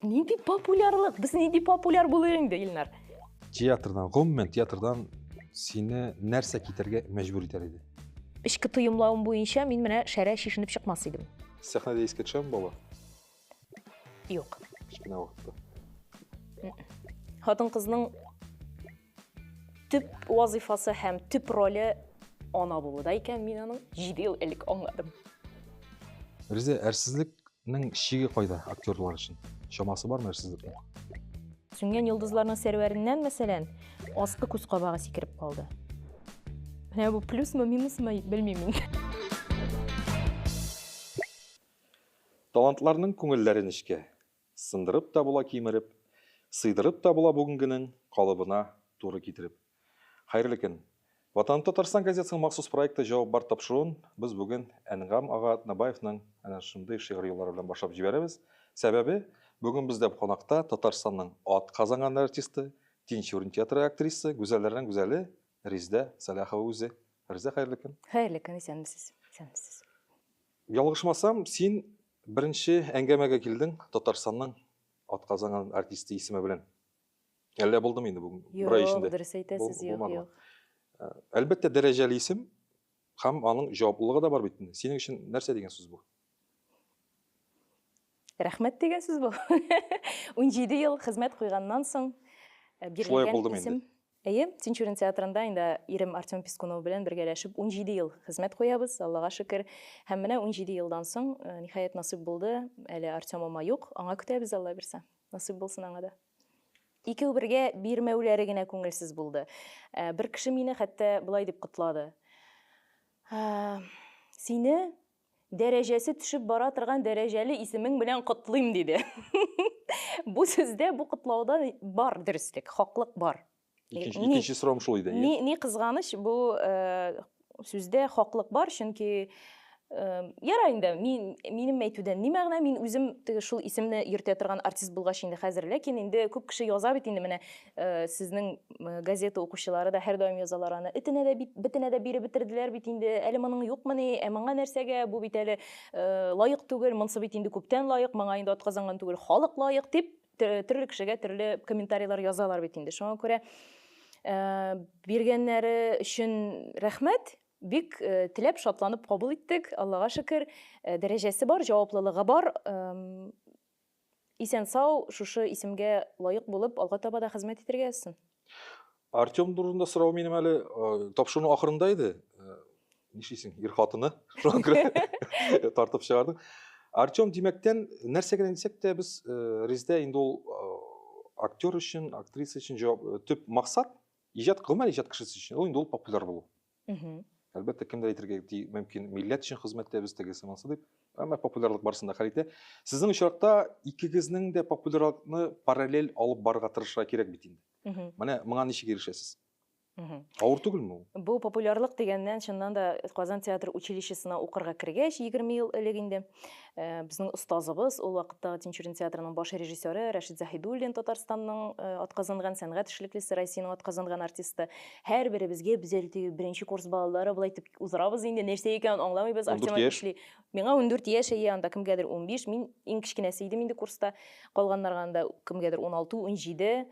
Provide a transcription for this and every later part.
Нинди популярлык? Без нинди популяр булыйк инде, Илнар? Театрдан, гомумән театрдан сине нәрсә китәргә мәҗбүр итәр иде? Эчке тоемлавым буенча мин менә шәрә чишенеп чыкмас идем. Сәхнәдә искә төшәме бала? Юк. Кечкенә вакытта. Хатын-кызның Төп вазыйфасы һәм төп роле ана булуда икән, мин аның 7 ел элек аңладым. Риза, әрсезлекнең шиге кайда актерлар өчен? Чамасы бармы әрсезлекнең? Сүнгән йолдызларның сәрвәреннән, мәсәлән, аскы күз кабагы сикереп калды. Менә бу плюсмы, минусмы, белмим мин. Талантларның күңелләре нечкә. Сындырып та була кимереп, Сыйдырып та була бүгенгенең Калыбына туры китереп. Хәерле көн! Ватаным Татарстан газетасының махсус проекты Җавап бар тапшыруын без бүген Әнгам ага Атнабаевның әнә шундый шигъри юллары белән башлап җибәрәбез. Сәбәбе, бүген бездә кунакта Татарстанның ат казанган артисты, Тинчурин театры актрисы, гүзәлләрнең гүзәле Риздә Сәлахова үзе. Риздә, хәерле көн! Хәерле көн, исәнмесез! Исәнмесез! Ялгышмасам, син беренче әңгәмәгә килдең Татарстанның атказанган артисты исеме белән. Әллә булдымы инде бүген? Бер ай эчендә. Юк, дөрес әйтәсез, юк, юк. Э, әлбәттә, дәрәҗәле исем һәм аның җаваплылыгы да бар бит инде. Синең өчен нәрсә дигән сүз бу? Рәхмәт дигән сүз бу. 17 ел хезмәт куйганнан соң э, бирелгән исем. Әйе, Тинчурин театрында инде ирем Артем Пискунов белән бергәләшеп унҗиде ел хезмәт куябыз, Аллага шөкер. Һәм менә унҗиде елдан соң, ниһаять, насыйп булды. Әле Артемыма юк, аңа көтәбез, Алла бирсә. Насыйп булсын аңа да. Икәү бергә бирмәүләре генә күңелсез булды. Бер кеше мине хәтта болай дип котлады. Сине Дәрәҗәсе төшеп бара торган дәрәҗәле исемең белән котлыйм, диде. Бу сүздә, бу котлауда бар дөреслек, хаклык бар. Икенче, икенче сорам шул иде. Ни, ни кызганыч, бу сүздә хаклык бар, чөнки ярар инде, мин минем әйтүдән ни мәгънә, мин үзем теге шул исемне йөртә торган артист булгач инде хәзер, ләкин инде күп кеше яза бит инде менә Э, сезнең э, газета укучылары да һәрдаим язалар аны этенә дә бит бетенә дә биреп бетерделәр бит инде әле моның юкмыни ә моңа нәрсәгә бу бит әле э, лаек түгел монсы бит инде күптән лаек моңа инде атказанган түгел халык лаек дип төрле кешегә төрле комментарийлар язалар бит инде шуңа күрә биргәннәре өчен рәхмәт бик теләп шатланып кабул иттек аллага шөкер дәрәҗәсе бар җаваплылыгы бар Исән-сау, шушы исемгә лаек булып, алга таба да хезмәт итәргә язсын. Артем турында сорау минем әле тапшыруның ахырында иде. Нишлисең, ир хатыны, шуңа күрә тартып чыгардың. Артем Димәктән нәрсә генә дисәк тә без Резидә инде ул актер өчен, актриса өчен төп максат иҗат, гомумән иҗат кешесе өчен ул инде ул популяр булу. Әлбәттә, кемдер әйтергә мөмкин, милләт өчен хезмәт итәбез, тегесе монсы дип. Әмма популярлык барысын да хәл итә. Сезнең очракта икегезнең дә популярлыкны параллель алып барырга тырышырга кирәк бит инде. Менә моңа ничек ирешәсез? Авыр түгелме ул? Бу популярлык дигәннән, чыннан да Казан театр училищесына укырга кергәч, 20 ел элек инде. Э, безнең остазыбыз ул вакытта тинчурин театрының баш режиссеры рәшит заһидуллин татарстанның э, атказанган сәнгать эшлеклесе россиянең атказанган артисты һәрберебезгә без әле беренче курс балалары былай итеп уздырабыз инде нәрсә икәнен аңламыйбыз артем әйтмешли миңа ундүрт яшь әйе анда кемгәдер унбиш мин иң кечкенәсе идем инде курста калганнарга анда кемгәдер уналты унҗиде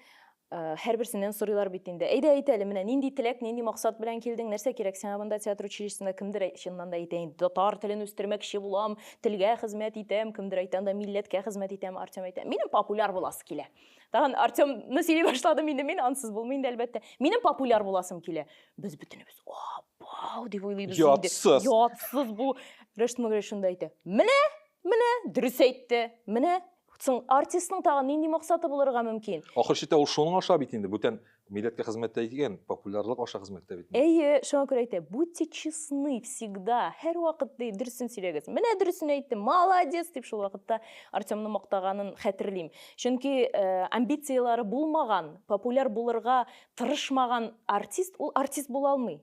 Ә, һәрберсеннән сорыйлар бит инде. Әйдә, әйт әле, менә нинди теләк, нинди максат белән килдең, нәрсә кирәк сиңа монда театр училищесында? Кемдер әй, чыннан да әйтә инде, татар телен үстермәкче булам, телгә хезмәт итәм, кемдер әйтә анда, милләткә хезмәт итәм, Артем әйтә, минем популяр буласы килә. Тагын Артемны сөйли башладым инде мин, ансыз булмый инде, әлбәттә. Минем популяр буласым килә. Без бөтенебез, апау, дип уйлыйбыз инде. Ятсыз. Ятсыз бу. Рәшит Магрәш шунда әйтә, менә, менә, дөрес әйтте, менә, Соң, артистның тагын нинди максаты булырга мөмкин? Ахыр чиктә ул шуның аша бит инде, бүтән милләткә хезмәт тә иткән, популярлык аша хезмәт тә бит. Әйе, шуңа күрә әйтә, будьте честны всегда, һәрвакыт ди, дөресен сөйләгез. Менә дөресен әйтте, молодец! дип шул вакытта Артемны мактаганын хәтерлим. Чөнки амбицияләре булмаган, популяр булырга тырышмаган артист, ул артист була алмый.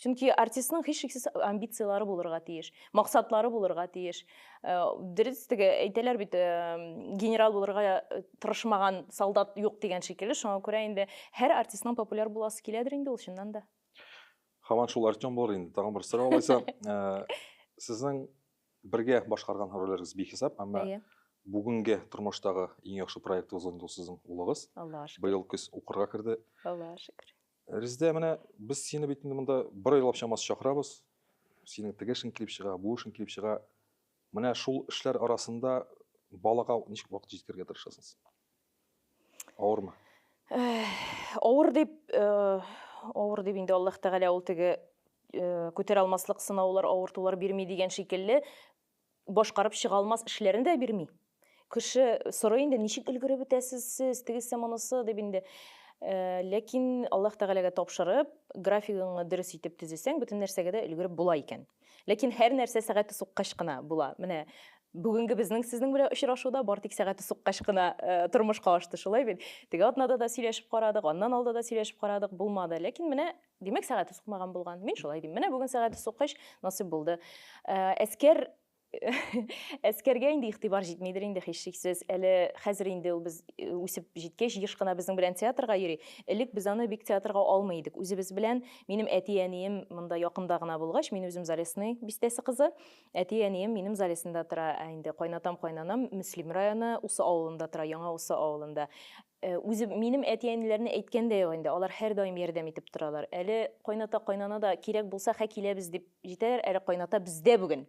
Чөнки артистның һичшиксез амбицияләре булырга тиеш, максатлары булырга тиеш. Э, дөрес теге әйтәләр бит, э, генерал булырга э, тырышмаган солдат юк дигән шикелле. Шуңа күрә инде һәр артистның популяр буласы киләдер инде ул чыннан да. Хаман шул Артем булыр инде. Тагын бер сорау алайса. Сезнең бергә башкарган рольләрегез бихисап, әмма иә. бүгенге тормыштагы иң яхшы проектыгыз инде ул сезнең улыгыз. Аллаһ шөкер. Быел көз укырга керде. Аллаһ шөкер. Резидә, менә без сине бит инде монда бер айлап чамасы чакырабыз. Синең теге эшең килеп чыга, бу эшең килеп чыга. Менә шул эшләр арасында балага ничек вакыт җиткерергә тырышасыз? Авырмы? Авыр дип, э, авыр дип инде Аллаһ Тәгалә ул теге э, күтәрә алмаслык сынаулар, авыртулар бирми дигән шикелле, Башкарып чыга алмас эшләрен дә бирми. Кеше сорый инде, ничек өлгереп бетәсез сез, тегесе монысы дип инде. Э, ләкин Аллаһ Тәгаләгә тапшырып, графигыңны дөрес итеп төзесәң, бөтен нәрсәгә дә өлгереп була икән. Ләкин һәр нәрсә сәгате суккач кына була. Менә бүгенге безнең сезнең белән очрашуда бар тик сәгате суккач кына э, тормышка ашты, шулай бит. Теге атнада да сөйләшеп карадык, аннан алда да сөйләшеп карадык, булмады. Ләкин менә Димәк, сәгате сукмаган булган. Мин шулай дим. Менә бүген сәгате суккач, насыйп булды. Ә, Әскәр әскәргә инде игътибар җитмидер инде һичшиксез. Әле хәзер инде ул без э, үсеп җиткәч, еш кына безнең белән театрга йөри. Элек без аны бик театрга алмый идек. Үзебез белән минем әти-әнием монда якында гына булгач, мин үзем Залесный бистәсе кызы. Әти-әнием минем Залесныйда тора. Ә инде кайнатам, кайнанам Мөслим районы Усы авылында тора, Яңа Усы авылында. Ә үзе минем әти-әниләрне әйткән дә юк инде, алар һәрдаим ярдәм итеп торалар. Әле кайната-кайнана да кирәк булса хә киләбез дип җитәләр, әле кайната бездә бүген.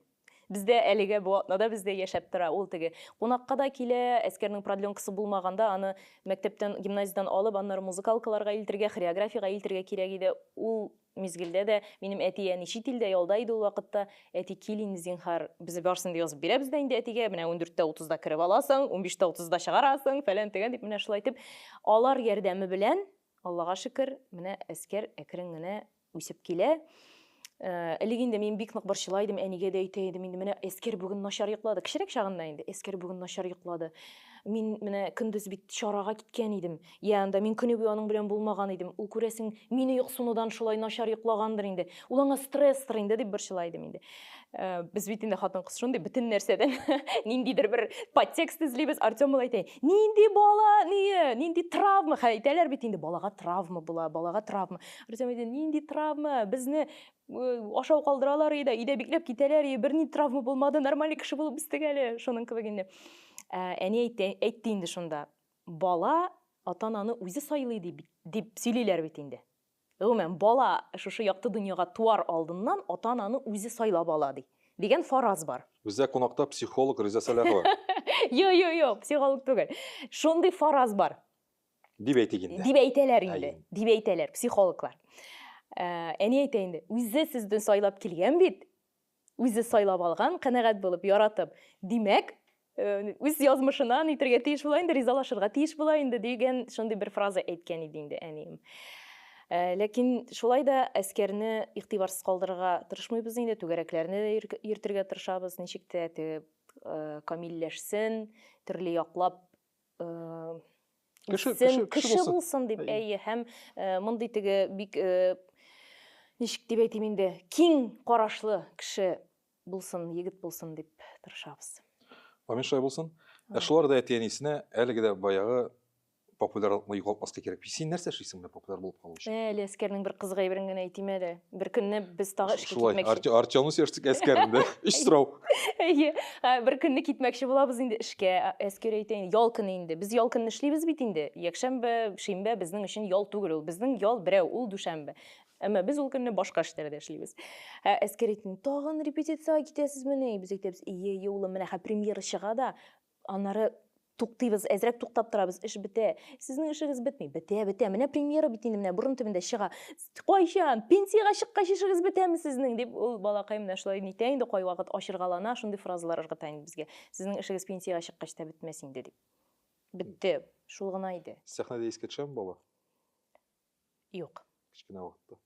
Бездә әлегә бу атнада бездә яшәп тора. Ул теге кунакка да килә, әскәрнең продленкасы булмаганда аны мәктәптән, гимназиядән алып, аннары музыкалкаларга илтергә, хореографиягә илтергә кирәк иде. Ул мизгелдә дә минем әти әни чит илдә ялда иде ул вакытта, әти кил инде зинһар, без барысын да язып бирәбез дә инде әтигә, менә ундүрттә утызда кереп аласың, унбиштә утызда чыгарасың, фәлән төгән дип менә шулай итеп алар ярдәме белән Аллага шөкер, менә Әскәр әкрен генә үсеп килә. Элек инде мин бик нык борчыла идем, әнигә дә әйтә идем, инде менә Әскәр бүген начар йоклады. Кечерәк чагында инде Әскәр бүген начар йоклады. Мин менә көндез бит чарага киткән идем. Йә анда, мин көне буе аның белән булмаган идем. Ул, күрәсең, мине йоксынудан шулай начар йоклагандыр инде. Ул аңа стресстыр инде, дип борчыла идем инде. Без бит инде хатын-кыз шундый, бөтен нәрсәдән ниндидер бер подтекст эзлибез. Артем ул әйтә, нинди бала, ние, нинди травма, хә, әйтәләр бит инде, балага травма була, балага травма. Артем әйтә, нинди травма, безне ашау калдыралар иде, өйдә бикләп китәләр, и, берни травма булмады, нормальный кеше булып үстек әле, шуның кебек инде. Әни әйтте, әйтте инде шунда. Бала ата-ананы үзе сайлый ди бит, дип сөйлиләр бит инде. Гомумән, бала шушы якты дөньяга туар алдыннан ата-ананы үзе сайлап ала, ди, дигән фараз бар. Бездә кунакта психолог Риза Сәлахова. Юк, юк, юк, психолог түгел. Шундый фараз бар. Дип әйтик инде. Дип әйтәләр инде. Дип әйтәләр психологлар. Ә, әни әйтә инде, үзе сезне сайлап килгән бит. Үзе сайлап алган, канәгать булып, яратып. Димәк, үз язмышына нитергә тиеш була инде, ризалашырга тиеш була инде дигән шундый бер фраза әйткән иде инде әнием. Ләкин шулай да әскәрне игътибарсыз калдырырга тырышмыйбыз инде, түгәрәкләрне дә йөртергә тырышабыз, ничек тә теге камилләшсен, төрле яклап кеше, кеше, кеше булсын дип әйе һәм мондый теге бик ничек дип әйтим инде киң карашлы кеше булсын егет булсын дип тырышабыз амин шулай булсын ә шулар да әти әнисенә әлеге дә баягы популярлыкны югалтмаска кирәк син нәрсә эшлисең менә популяр булып калу өчен әле әскәрнең бер кызык әйберен генә әйтим әле Бер көнне без тагы эшкә Шулай, китмәкче. Арте- Артемны сөйләштек әскәрендә. Өч сорау. Әйе. Ә, Бер көнне китмәкче булабыз инде эшкә. Ә, Әскер әйтә инде, ял көне инде. Без ял көнне эшлибез бит инде. Якшәмбе, шимбә безнең өчен ял түгел ул. Безнең ял берәү, ул дүшәмбе. Әмма без ул көнне башка эшләрдә эшлибез. Ә, Әскер әйтте, тагын репетициягә китәсезмени? Без әйтәбез, ие, ие, улым, менә хә премьера чыга да, Аннары туктыйбыз, әзрәк туктап торабыз, эш бетә. Сезнең эшегез бетми. Бетә, бетә. Менә премьера бит инде менә борын төбендә чыга. Кайчан? Пенсиягә чыккач эшегез бетәме сезнең? дип ул балакай менә шулай нитә инде кайвакыт ачыргалана, шундый фразалар ыргыта инде безгә. Сезнең эшегез пенсиягә чыккач та бетмәс инде дип. Бетте. Шул гына иде. Сәхнәдә искә төшәме бала? Юк. Кечкенә вакытта.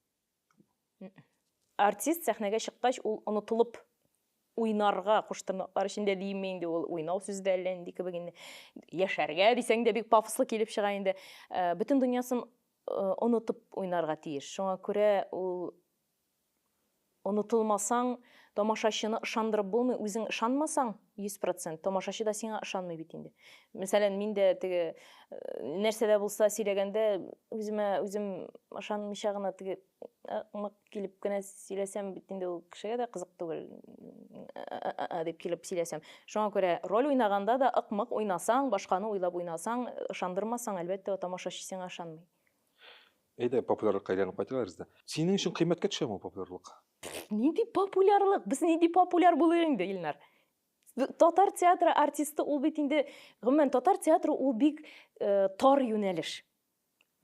Артист сәхнәгә чыккач, ул онытылып уйнарга куштырнаклар эчендә димме инде ул уйнау сүзе дә әллә нинди кебек инде яшәргә дисәң дә бик пафослы килеп чыга инде э, бөтен дөньясын э, онытып уйнарга тиеш шуңа күрә ул онытылмасаң тамашачыны ышандырып булмый үзең ышанмасаң Йөз процент. Тамашачы да сиңа ышанмый бит инде. Мәсәлән, мин дә теге э, нәрсә дә булса сөйләгәндә үземә үзем ышанмыйча гына теге э, мык килеп кенә сөйләсәм бит инде ул кешегә дә кызык түгел э, дип килеп сөйләсәм. Шуңа күрә роль уйнаганда да ык-мык уйнасаң, башканы уйлап уйнасаң, ышандырмасаң, әлбәттә, тамашачы сиңа ышанмый. Әйдә, популярлыкка әйләнеп кайтыйк без дә. Синең өчен кыйммәткә төшәме популярлык? Нинди популярлык? Без нинди популяр булыйк инде, Илнар? Татар театры артисты ул бит инде, гомумән, татар театры ул бик э, тар юнәлеш.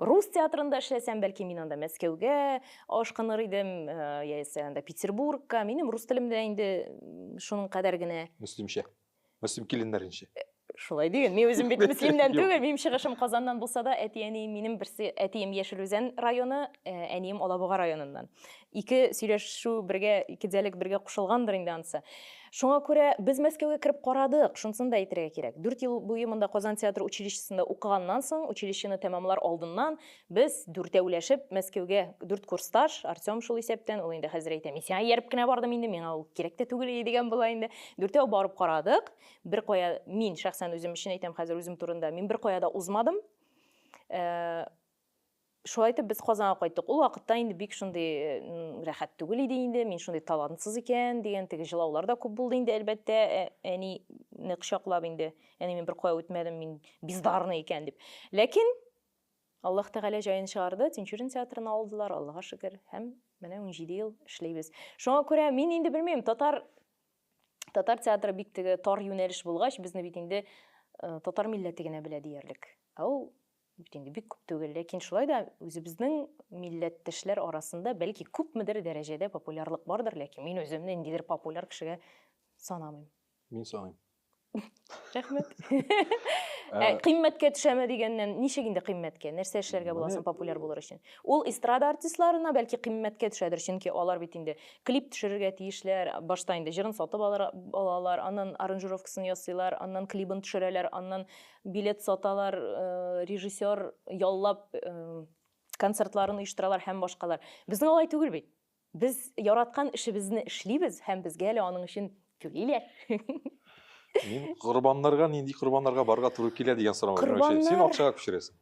Рус театрында эшләсәм, бәлки мин анда Мәскәүгә ашкыныр идем, э, яисә анда Петербургка. Минем рус телем дә инде шуның кадәр генә. Мөслимчә. Мөслим киленнәренчә. Шулай диген. Мин үзем бит Мөслимнән түгел, минем чыгышым Казаннан булса да, әти-әнием минем берсе, әтием Яшел Үзән районы, э, әнием Алабуга районыннан. Ике сөйләшү бергә, ике диалект бергә кушылгандыр инде ансы. Шуңа күрә без Мәскәүгә кереп карадык, шунысын да әйтергә кирәк. Дүрт ел буе монда Казан театр училищесында укыганнан соң, училищены тәмамлар алдыннан, Без дүртәүләшеп Мәскәүгә, дүрт курсташ, Артем шул исәптән, ул инде хәзер әйтә, мин сиңа ияреп кенә бардым инде, миңа ул кирәк тә түгел иде дигән була инде. Дүртәү барып карадык, беркая, мин шәхсән үзем өчен әйтәм хәзер үзем турында, мин беркая да узмадым. Шулай итеп без Казанга кайттык. Ул вакытта инде бик шундый рәхәт түгел иде инде, мин шундый талантсыз икән дигән теге җылаулар да күп булды инде, әлбәттә, әни нык чаклап инде, әни мин беркая үтмәдем, мин бездарный икән дип. Ләкин Аллаһ Тәгалә җаен чыгарды, Тинчурин театрын алдылар, Аллага шөкер, һәм менә унҗиде ел эшлибез. Шуңа күрә мин инде белмим, татар татар театры бик теге тар юнәлеш булгач, безне бит инде э, татар милләте генә белә диярлек. Ә ул бит инде бик күп түгел, ләкин шулай да үзебезнең милләттәшләр арасында бәлки күпмедер дәрәҗәдә популярлык бардыр, ләкин мин үземне ниндидер популяр кешегә санамыйм. Мин саныйм. рәхмәт ә, ә кыйммәткә төшәме дигәннән ничек инде кыйммәткә нәрсә эшләргә була соң популяр булыр өчен ул эстрада артистларына бәлки кыйммәткә төшәдер чөнки алар бит инде клип төшерергә тиешләр башта инде җырын сатып алар, алалар аннан аранжировкасын ясыйлар аннан клибын төшерәләр аннан билет саталар э, режиссер яллап э, концертларын оештыралар һәм башкалар безнең алай түгел бит Без яраткан эшебезне эшлибез һәм безгә әле аның өчен түлиләр. Мин корбаннарга нинди корбаннарга барырга туры килә дигән сорау. Корбаннар... Син акчага күчерәсең.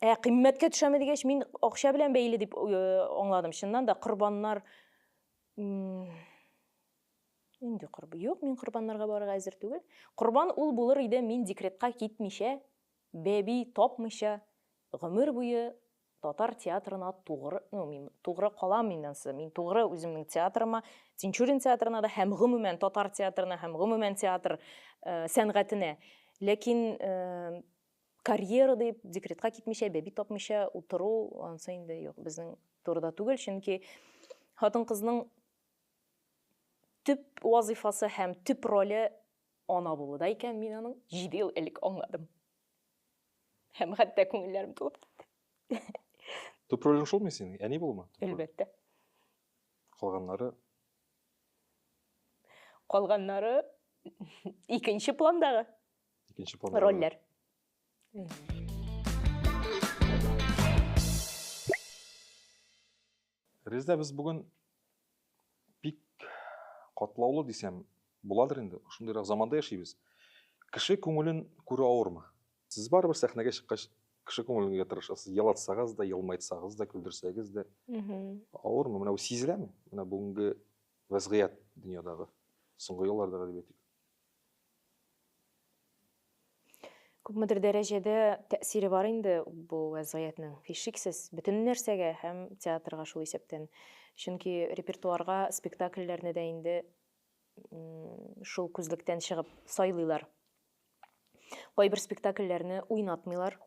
Ә кыйммәткә төшәме дигәч, мин акча белән бәйле дип аңладым. Чыннан да корбаннар инде корб. Юк, мин корбаннарга барырга әзер түгел. Корбан ул булыр иде, мин декретка китмичә, бәби тапмыйча, гомер буе Татар театрына тугры, ну, мин тугры калам мин ансы, мин тугры үземнең театрыма, Тинчурин театрына да һәм гомумән татар театрына һәм гомумән театр э, сәнгатенә. Ләкин э, карьера дип декретка китмичә, бәби тапмыйча утыру ансы инде юк, безнең турыда түгел, чөнки хатын-кызның төп вазыйфасы һәм төп роле ана булуда икән, мин аның 7 ел элек аңладым. Һәм хәтта күңелләрем тулып китте. Төп ролең шулмы синең? Әни булма? Әлбәттә. Калганнары? Калганнары икенче пландагы. Икенче пландагы. Рольләр. Резда без бүген бик катлаулы дисәм буладыр инде. Шундыйрак заманда яшибез. Кеше күңелен күрү авырмы? Сез барыбер сәхнәгә чыккач кеше күңеленгә тырышасыз. Елатсагыз да, елмайтсагыз да, көлдерсәгез дә. Авырмы? Менә бу сизеләме? Менә бүгенге вәзгыять дөньядагы, соңгы еллардагы дип әйтик. Күпмедер дәрәҗәдә тәэсире бар инде бу вәзгыятьнең. Һичшиксез, бөтен нәрсәгә һәм театрга шул исәптән. Чөнки репертуарга спектакльләрне дә инде шул күзлектән чыгып сайлыйлар. Кайбер спектакльләрне уйнатмыйлар.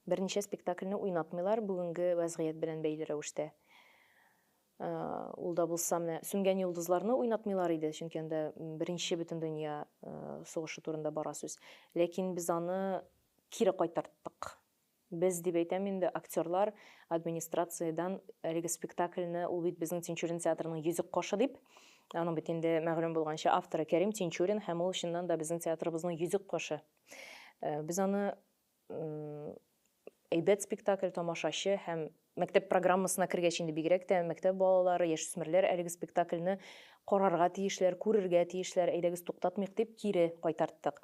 Берничә спектакльне уйнатмыйлар бүгенге вәзгыять белән бәйле рәвештә. Ул да булса менә Сүнгән йолдызларны уйнатмыйлар иде, чөнки анда беренче бөтендөнья сугышы турында бара сүз. Ләкин без аны кире кайтарттык. Без дип әйтәм инде, актерлар администрациядән әлеге спектакльне, ул бит безнең Тинчурин театрының йөзек кашы дип, аның бит инде мәгълүм булганча авторы Кәрим Тинчурин һәм ул чыннан да безнең театрыбызның йөзек кашы. Э, без аны әйбәт спектакль тамашачы һәм мәктәп программасына кергәч инде бигрәк тә мәктәп балалары яшүсмерләр әлеге спектакльне карарга тиешләр күрергә тиешләр әйдәгез туктатмыйк дип кире кайтарттык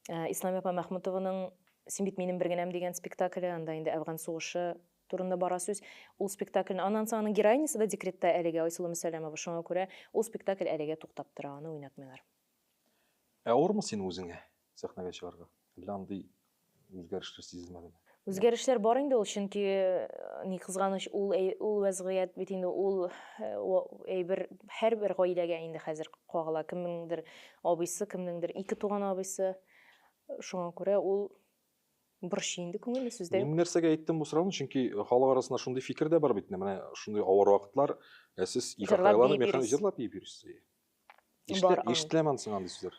э, ислам апа мәхмүтованың син бит минем бер генәм дигән спектакле анда инде әфган сугышы турында бара сүз ул спектакльне аннан соң аның героинясы да декретта әлегә айсылу мәсәләмова шуңа күрә ул спектакль әлегә туктап тора аны уйнатмыйлар Авырмы син үзеңә сәхнәгә чыгарга? Әллә андый үзгәрешләр сизелмәдеме? Үзгәрешләр бар инде ул, чөнки ни кызганыч, ул ул вәзгыять бит инде ул әйбер һәрбер гаиләгә инде хәзер кагыла. Кемнеңдер абыйсы, кемнеңдер ике туган абыйсы. Шуңа күрә ул борчый инде күңелне сүздә. Мин нәрсәгә әйттем бу сорауны? Чөнки халык арасында шундый фикер дә бар бит, менә шундый авыр вакытлар, ә сез ике кайланы механизм җырлап биеп йөрисез. Ишетеләме андый сүзләр?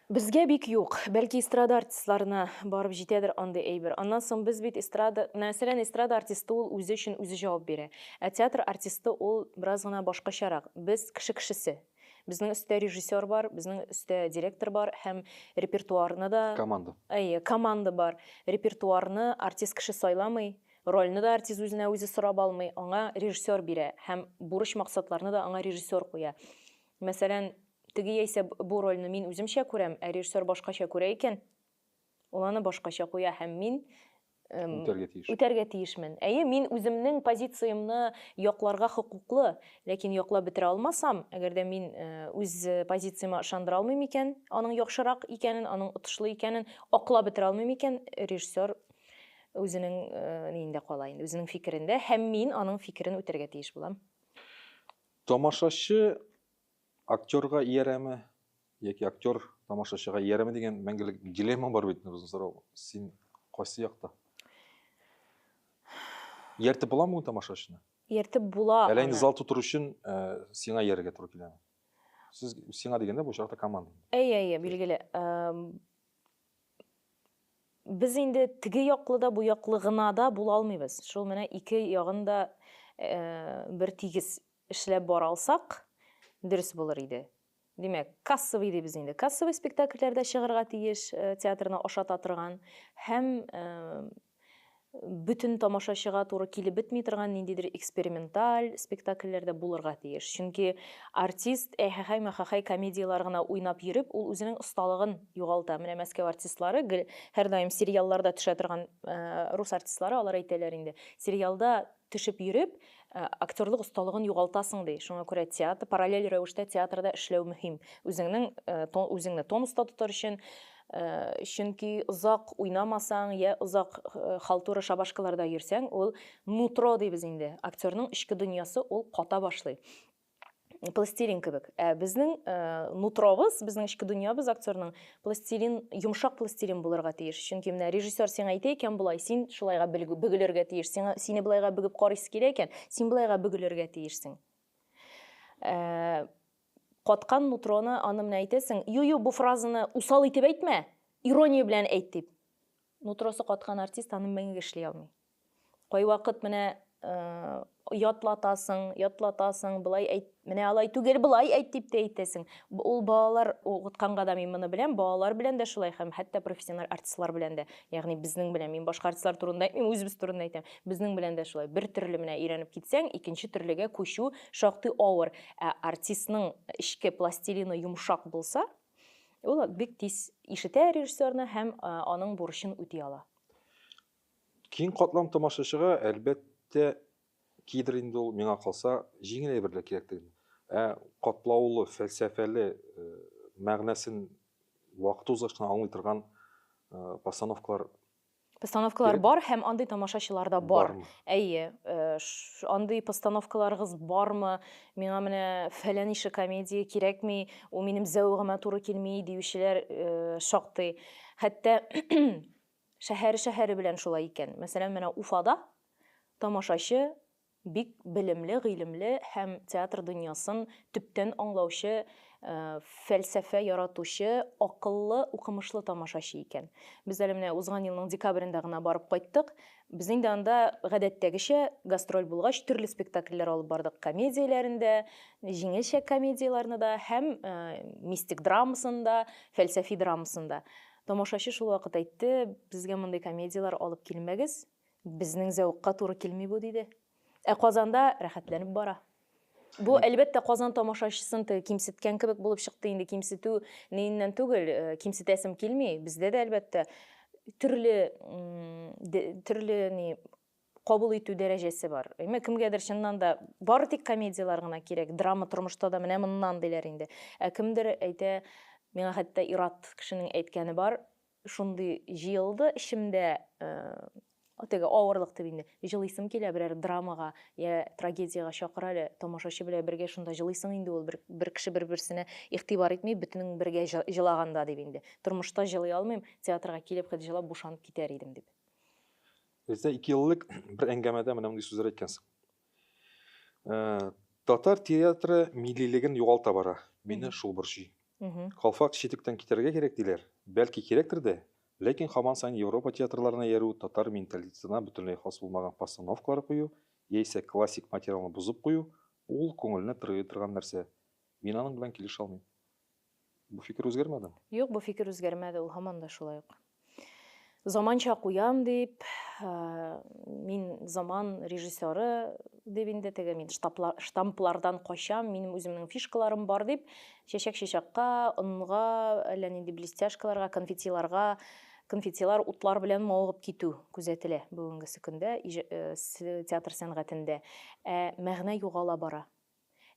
Безгә бик юк. Бәлки эстрада артистларына барып җитәдер андый әйбер. Аннан соң без бит эстрада, мәсәлән, эстрада артисты ул үзе өчен үзе җавап бирә. Ә театр артисты ул бераз гына башкачарак. Без кеше кешесе. Безнең өстә режиссер бар, безнең өстә директор бар һәм репертуарны да. Команда. Әйе, команда бар. Репертуарны артист кеше сайламый, Рольне дә артист үзенә үзе сорап алмый, аңа режиссер бирә һәм бурыч-максатларны да аңа режиссер куя. Мәсәлән, теге яисә бу рольне мин үземчә күрәм, ә режиссер башкача күрә икән, ул аны башкача куя һәм мин үтәргә тиеш. Үтәргә тиешмен. Әйе, мин үземнең позициямне якларга хокуклы, ләкин яклап бетерә алмасам, әгәр дә мин үз позицияма ышандыра алмыйм икән, аның яхшырак икәнен, аның отышлы икәнен аклап бетерә алмыйм икән, режиссер Үзенең ниендә кала инде, үзенең фикерендә һәм мин аның фикерен үтәргә тиеш булам. Тамашачы актерга иярәме яки актер тамашачыга иярәме дигән мәңгелек дилемма бар бит безнең сорау. Син кайсы якта? Ияртеп буламы тамашачыны? Ияртеп була. Әллә инде зал тутыру өчен сиңа иярергә туры киләме? Сез сиңа дигәндә бу очракта команда. Әйе, әйе, билгеле. без инде теге яклы да, бу яклы гына да була алмыйбыз. Шул менә ике ягын да э, бер тигез эшләп бара алсак, дөрес булыр иде. Димәк, кассовый дибез инде. Кассовый спектакльләрдә чыгарга тиеш, э, театрны ашата торган һәм э, бөтен тамашачыга туры килеп бетми торган ниндидер эксперименталь спектакльләр дә булырга тиеш. Чөнки артист әһәхәй-мәхәхәй комедияләр генә уйнап йөреп, ул үзенең осталыгын югалта. Менә Мәскәү артистлары, гел, һәрдаим сериалларда төшә торган рус артистлары алар әйтәләр инде, сериалда Төшеп йөреп, актерлык осталыгын югалтасың, ди. Шуңа күрә театр, параллель рәвештә театрда эшләү мөһим. Үзеңнең, үзеңне тонуста тотар өчен, чөнки озак уйнамасаң, йә озак халтура шабашкаларда йөрсәң, ул нутро дибез инде, актерның эчке дөньясы, ул ката башлый. пластилин кебек ә безнең э, нутробыз безнең эчке дөньябыз актерның пластилин йомшак пластилин булырга тиеш чөнки менә режиссер сиңа әйтә икән болай син шулайга бөгелергә тиеш сиңа сине былайга бөгеп карыйсы килә икән син былайга бөгелергә тиешсең э, каткан нутроны аны менә әйтәсең ю ю бу фразаны усал итеп әйтмә ирония белән әйт дип нутросы каткан артист аны мәңге эшли алмый Кайвакыт менә ятлатасың, ятлатасың, былай әйт, менә алай түгел, былай әйт дип тә әйтәсең. Ул балалар укытканга да мин моны беләм, балалар белән дә шулай һәм хәтта профессиональ артистлар белән дә. Ягъни безнең белән, мин башка артистлар турында әйтмим, үзебез турында әйтәм. Безнең белән дә шулай. Бер төрле менә өйрәнеп китсәң, икенче төрлегә күчү шактый авыр. Ә артистның эчке пластилины йомшак булса, ул бик тиз ишетә режиссерны һәм аның бурычын үти ала. Киң катлам тамашачыга, әлбәттә, кидер инде ул, миңа калса, җиңел әйберләр кирәктеген. Ә катлаулы, фәлсәфәле, э, мәгънәсен вакыт узгач кына аңлый торган э, постановкалар Постановкалар Керек. бар һәм андый тамашачылар да бар. Бармы? Әйе, э, ш- андый постановкаларыгыз бармы? Миңа менә фәлән ише комедия кирәкми, ул минем зәвыгыма туры килми диючеләр э, шактый. Хәтта Шәһәре-шәһәре белән шулай икән. Мәсәлән, менә Уфада тамашачы бик белемле, гыйлемле һәм театр дөньясын төптән аңлаучы, фәлсәфә яратучы, акыллы, укымышлы тамашачы икән. Без әле менә узган елның декабрендә гына барып кайттык. Без инде анда гадәттәгечә гастроль булгач, төрле спектакльләр алып бардык. Комедияләрен дә, җиңелчә комедияләрне дә һәм мистик драмасын да, фәлсәфи драмасын да. Тамашачы шулвакыт әйтте, Безгә мондый комедияләр алып килмәгез, безнең зәвыкка туры килми бу, диде. Ә Казанда рәхәтләнеп бара. Бу, әлбәттә, Казан тамашачысын теге кимсеткән кебек булып чыкты, инде кимсетү ниеннән түгел, кимсетәсем килми, бездә дә, әлбәттә, төрле, төрле ни, кабул итү дәрәҗәсе бар. Әмма кемгәдер чыннан да бары тик комедияләр генә кирәк, драма тормышта да менә моннан диләр инде. Ә кемдер әйтә, миңа хәтта ир-ат кешенең әйткәне бар, шундый җыелды эчемдә, э, теге авырлык дип инде, җылыйсым килә берәр драмага я трагедиягә чакыр әле, тамашачы белән бергә шунда җылыйсың инде ул, бер, бер кеше бер-берсенә игътибар итми, бөтенең бергә җылаганда дип инде. Тормышта җылый алмыйм, театрга килеп хет җылап бушанып китәр идем дип. Бездә ике ел элек бер әңгәмәдә менә мондый сүзләр әйткәнсең. Э, татар театры миллилеген югалта бара. Мине шул борчый. Калфак читектән китәргә кирәк диләр. Бәлки кирәктер дә, ләкин хаман сайын Европа театрларына яру татар менталитетына бөтенләй хас булмаган постановкалар кую, яисә классик материалны бозып кую, ул күңелне тырый торган нәрсә. Мин аның белән килешә алмыйм. Бу фикер үзгәрмәде? Юк, бу фикер үзгәрмәде, ул һаман да шулай ук. Заманча куям дип, мин заман режиссеры дип инде теге мин штамплардан качам, минем үземнең фишкаларым бар дип, чәчәк чәчәккә, онга, әллә нинди блестяшкаларга, конфетиларга конфетилар утлар белән мавыгып китү күзәтелә бүгенгесе көндә театр сәнгатендә. Ә мәгънә югала бара.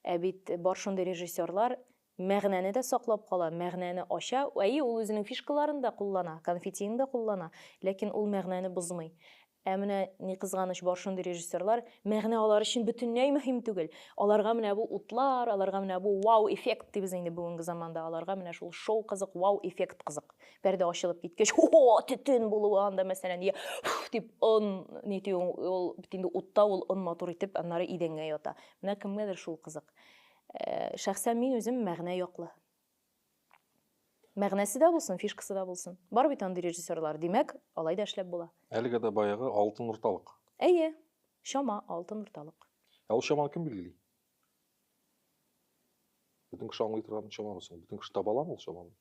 Ә бит бар шундый режиссерлар мәгънәне дә саклап кала, мәгънәне ача, әйе, ул үзенең фишкаларын да куллана, конфетиын да куллана, ләкин ул мәгънәне бозмый. Ә менә, ни кызганыч, бар шундый режиссерлар, мәгънә алар өчен бөтенләй мөһим түгел. Аларга менә бу утлар, аларга менә бу вау-эффект дибез инде бүгенге заманда, аларга менә шул шоу кызык, вау-эффект кызык. Пәрдә ачылып киткәч, о-о, төтен булуы анда, мәсәлән, йә, фу, дип, он, нитү, ул бит инде утта, ул он матур итеп, аннары идәнгә ята. Менә кемгәдер шул кызык. Шәхсән мин үзем мәгънә яклы. Мәгънәсе дә булсын, фишкасы да булсын. Бар бит андый режиссерлар. Димәк, алай да эшләп була. Әлегә дә баягы алтын урталык. Әйе, чама алтын урталык. Ә ул чаманы кем билгели? Бөтен кеше аңлый торган чамамы соң? Бөтен кеше таба аламы ул чаманы?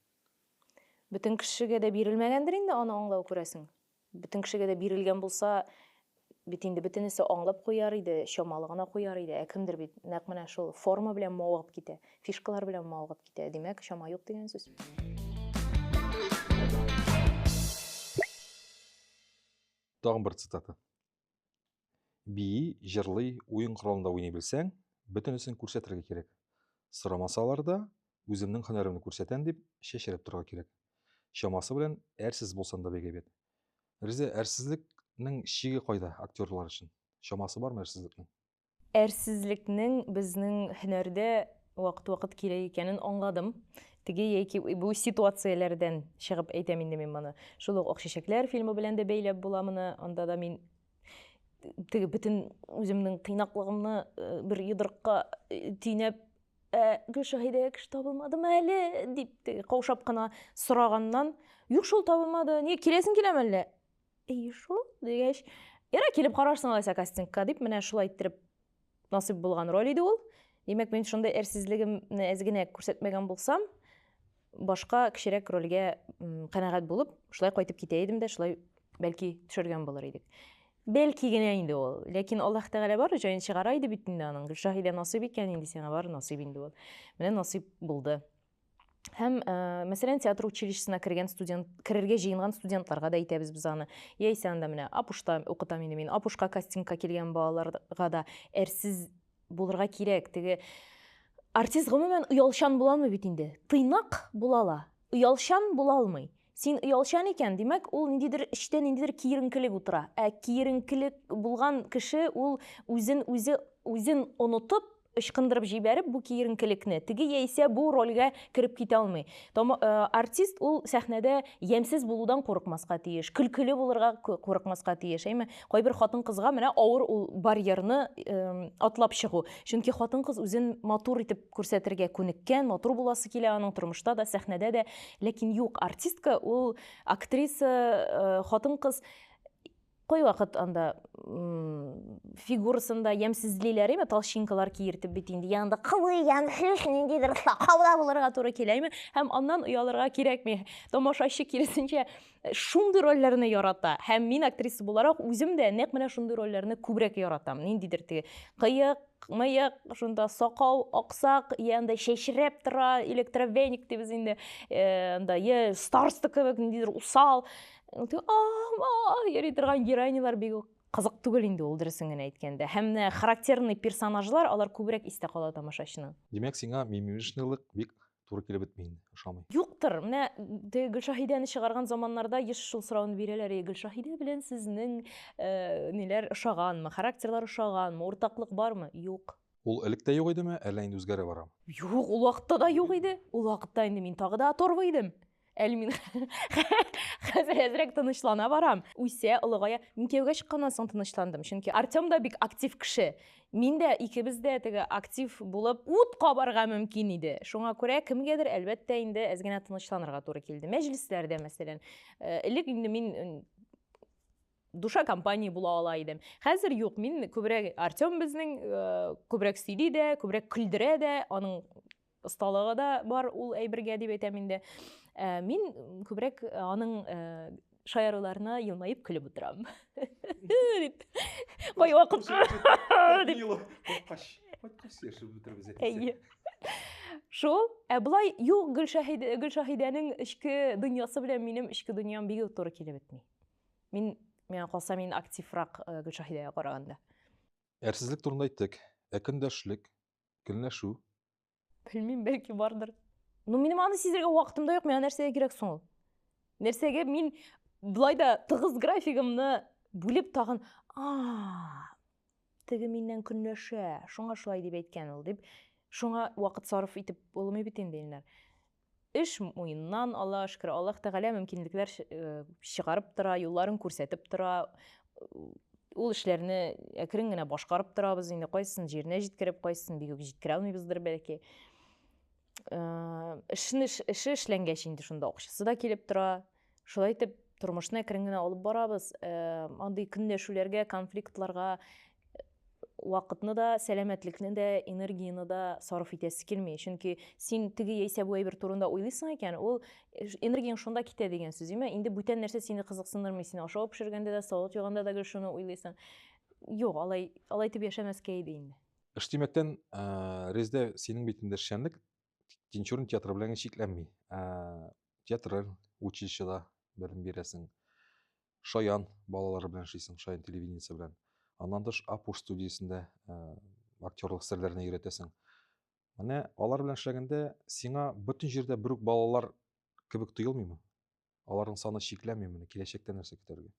Бөтен кешегә дә бирелмәгәндер инде аны аңлау, күрәсең. Бөтен кешегә дә бирелгән булса, бит инде бөтенесе аңлап куяр иде, чамалы гына куяр иде. Ә кемдер бит нәкъ менә шул форма белән мавыгып китә, фишкалар белән мавыгып китә. Димәк, чама юк дигән сүз. Тагын бер цитата. бии, җырлый, уен коралында уйный белсәң, бөтенесен күрсәтергә кирәк. Сорамасалар да, үземнең һөнәремне күрсәтәм дип, чәчрәп торырга кирәк. Чамасы белән әрсез булсам да бик әйбәт. Риза, әрсезлекнең чиге кайда актерлар өчен? Чамасы бармы әрсезлекнең? Әрсезлекнең безнең һөнәрдә вакыт-вакыт кирәк икәнен аңладым. Теге яки бу ситуацияләрдән чыгып әйтәм инде мин моны. Шул ук Акчәчәкләр фильмы белән дә бәйләп була моны. Анда да мин теге бөтен үземнең тыйнаклыгымны э, бер йодрыкка э, төйнәп ә гөлшаһидә кеше табылмадымы әле дип каушап кына сораганнан юк шул табылмады не киләсең киләме әллә И шул дигәч, ярай килеп карарсың алайса кастингка дип, менә шулай иттереп насыйп булган роль иде ул. Димәк, мин шундый әрсезлегемне әз генә күрсәтмәгән булсам, башка кечерәк рольгә канәгать булып, шулай кайтып китә идем дә, шулай бәлки төшергән булыр идек. Бәлки генә инде ул. Ләкин Аллаһ Тәгалә бар җаен чыгара иде бит инде аның. Гөлшаһидә насыйп икән инде сиңа бар насыйп инде ул. Менә насыйп булды. һәм ә, э, мәсәлән театр училищесына кергән студент керергә җыенган студентларга да әйтәбез без аны яисә анда менә апушта укытам инде мин апушка кастингка килгән балаларга да әрсез булырга кирәк теге артист гомумән оялчан буламы бит инде тыйнак була ала оялчан була алмый Син оялчан икән, димәк, ул ниндидер эчтә ниндидер киеренкелек утыра. Ә киеренкелек булган кеше ул үзен үзе үзен онытып, ычкындырып җибәреп бу киеренкелекне, теге яисә бу рольгә кереп китә алмый. Тома, э, артист ул сәхнәдә ямьсез булудан курыкмаска тиеш, көлкеле булырга курыкмаска тиеш. Әйме, кайбер хатын-кызга менә авыр ул барьерны э, атлап чыгу. Чөнки хатын-кыз үзен матур итеп Күрсәтергә күнеккән, матур буласы килә аның тормышта да, сәхнәдә дә. Ләкин юк, артистка ул актриса, э, хатын-кыз кайвакыт анда фигурасында ямьсезлиләр име, толщинкалар киертеп бит инде, янда кылый, ямьсез, ниндидер сакауда булырга туры килә име, һәм аннан оялырга кирәкми. Тамашачы киресенчә э, шундый рольләрне ярата. Һәм мин актриса буларак үзем дә нәкъ менә шундый рольләрне күбрәк яратам. Ниндидер теге кыек, мыек, шунда сакау аксак, я анда чәчрәп тора, электровеник дибез инде, э, анда я староста кебек ниндидер усал, ама йөри торган героинялар бик үк кызык түгел инде ул дөресен генә әйткәндә. Һәм менә характерный персонажлар, алар күбрәк истә кала тамашачының. Димәк, сиңа мимимишнылык бик туры килеп бетми инде, ошамый. Юктыр, менә теге Гөлшаһидәне чыгарган заманнарда еш шул сорауны бирәләр, и Гөлшаһидә белән сезнең э, ниләр ошаганмы, характерлар ошаганмы, уртаклык бармы? Юк. Ул элек тә юк идеме, әллә инде үзгәрә барамы? Юк, ул вакытта да юк иде. Ул вакытта инде мин тагы да оторва идем. әле мин хәзер әзрәк тынычлана барам үсә олыгая мин кияүгә чыкканнан соң тынычландым чөнки артем да бик актив кеше мин дә икебез дә теге актив булып ут кабарга мөмкин иде шуңа күрә кемгәдер әлбәттә инде әз генә тынычланырга туры килде мәҗлесләрдә мәсәлән э, элек инде мин душа компании була ала идем хәзер юк мин күбрәк артем безнең э, күбрәк сөйли дә күбрәк көлдерә дә аның Осталыгы да бар ул әйбергә дип әйтәм инде. Ә, мин күбрәк аның ә, шаяруларына елмаеп көлеп утырам. Дип. Кай вакыт дип. Кайткач, кайткач яшәп бетербез. Әйе. Шул, ә былай юк Гөлшаһидә Гөлшаһидәнең эчке дөньясы белән минем эчке дөньям бигү туры килеп бетми. Мин миңа калса мин активрак э, Гөлшаһидәгә караганда. Әрсезлек турында әйттек. Ә көндәшлек, Көнләшү. Белмим, бәлки бардыр. Ну, минем аны сизергә вакытым да юк, миңа нәрсәгә кирәк соң ул? Нәрсәгә мин былай да тыгыз графигымны бүлеп тагын, а, теге миннән көнләшә, шуңа шулай дип әйткән ул, дип. Шуңа вакыт сарыф итеп булмый бит инде, Илнар. Эш муеннан ала, шөкер, Аллаһ Тәгалә мөмкинлекләр чыгарып тора, юлларын күрсәтеп тора. Ул эшләрне әкрен генә башкарып торабыз, инде кайсысын җиренә җиткереп, кайсысын бик үк җиткерә алмыйбыздыр бәлки. Эшне эше эшләнгәч инде шунда акчасы да килеп тора. Шулай итеп, тормышны әкрен генә алып барабыз. Э, андый көнләшүләргә, конфликтларга э, вакытны да, сәламәтлекне дә, энергияне дә сарыф итәсе килми. Чөнки син теге яисә бу әйбер турында уйлыйсың икән, ул энергияң шунда китә дигән сүз, имә. Инде бүтән нәрсә сине кызыксындырмый, син ашау пешергәндә дә, салат юганда да гел шуны уйлыйсың. Юк, алай, алай итеп яшәмәскә иде инде. Эш димәктән, э, Резда, синең бит инде эшчәнлек Тинчурин театры белән чикләнми. Театраль училищеда белем бирәсең. Шаян балалары белән эшлисең, Шаян телевидениесе белән. Аннан тыш Апуш студиясендә актерлык серләренә өйрәтәсең. Менә алар белән эшләгәндә сиңа бөтен җирдә бер үк балалар кебек тоелмыймы? Аларның саны чикләми моны, киләчәктә нәрсә көтәргә?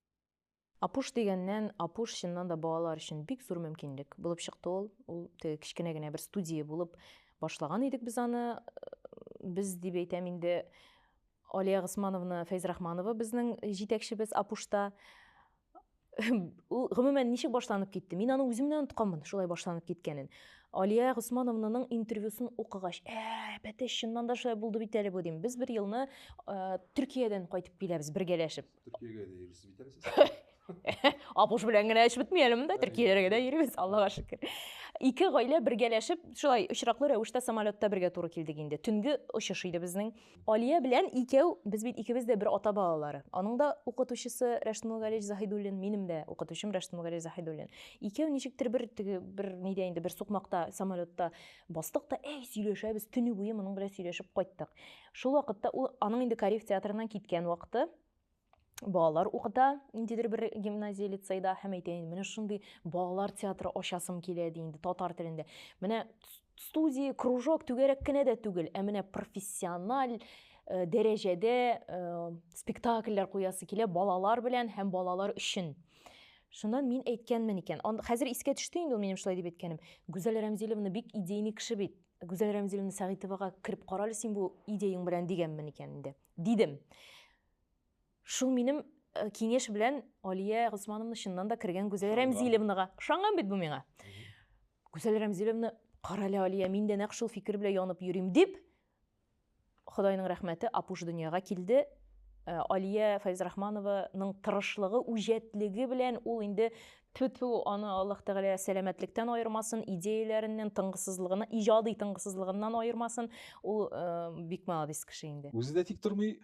Апуш дигәннән, Апуш чыннан да балалар өчен бик зур мөмкинлек булып чыкты ул. Ул теге кечкенә генә бер студия булып башлаган идек без аны. Без дип әйтәм инде, Алия Госмановна Фәйзрахманова безнең җитәкчебез Апушта. ул гомумән ничек башланып китте мин аны үзем дә онытканмын шулай башланып киткәнен алия госмановнаның интервьюсын укыгач ә бәтәй чыннан да шулай булды бит әле бу дим без бер елны ә, төркиядән кайтып киләбез бергәләшеп төркиягә дә йөрсез бит әле сез апуш белән генә эш бетмәялеме да төркияләргә дә йөрибез аллага шөкер ике гаилә бергәләшеп шулай очраклы рәвештә самолетта бергә туры килдек инде төнге очыш иде безнең Алия белән икәү, без бит икебез дә бер ата балалары. Аның да укытучысы Рәшт Мулгалевич Заһидуллин, минем дә укытучым Рәшт Мулгалевич Заһидуллин. Икәү ничектер бер теге бер нидә инде бер сукмакта, самолетта бастык та, әй, сөйләшәбез, төне буе моның белән сөйләшеп кайттык. Шул вакытта ул аның инде Кариев театрыннан киткән вакыты. балалар укыта ниндидер бер гимназия лицейда һәм әйтә инде менә шундый балалар театры ачасым килә ди инде татар телендә менә студия кружок түгәрәк кенә дә түгел ә менә профессиональ э, дәрәҗәдә э, спектакльләр куясы килә балалар белән һәм балалар өчен шуннан мин әйткәнмен икән хәзер искә төште инде ул минем шулай дип әйткәнем гүзәл рәмзиловна бик идейный кеше бит гүзәл рәмзиловна сәгыйтовага кереп карале син бу идеяң белән дигәнмен икән инде дидем Шул минем э, киңеш белән Алия Госмановна чыннан да кергән Гүзәл Рәмзилевнага. Ышанган бит бу миңа. Гүзәл Рәмзилевна, кара әле Алия, мин дә нәкъ шул фикер белән янып йөрим дип, Худайның рәхмәте, апуш дөньяга килде. Э, Алия Файзрахманованың тырышлыгы, үҗәтлеге белән ул инде түтү аны Аллаһ Тәгалә сәламәтлектән аермасын, идеяләреннән, тыңгысызлыгына, иҗади тыңгысызлыгыннан аермасын. Ул э, бик молодец кеше инде. Үзе дә тик тормый,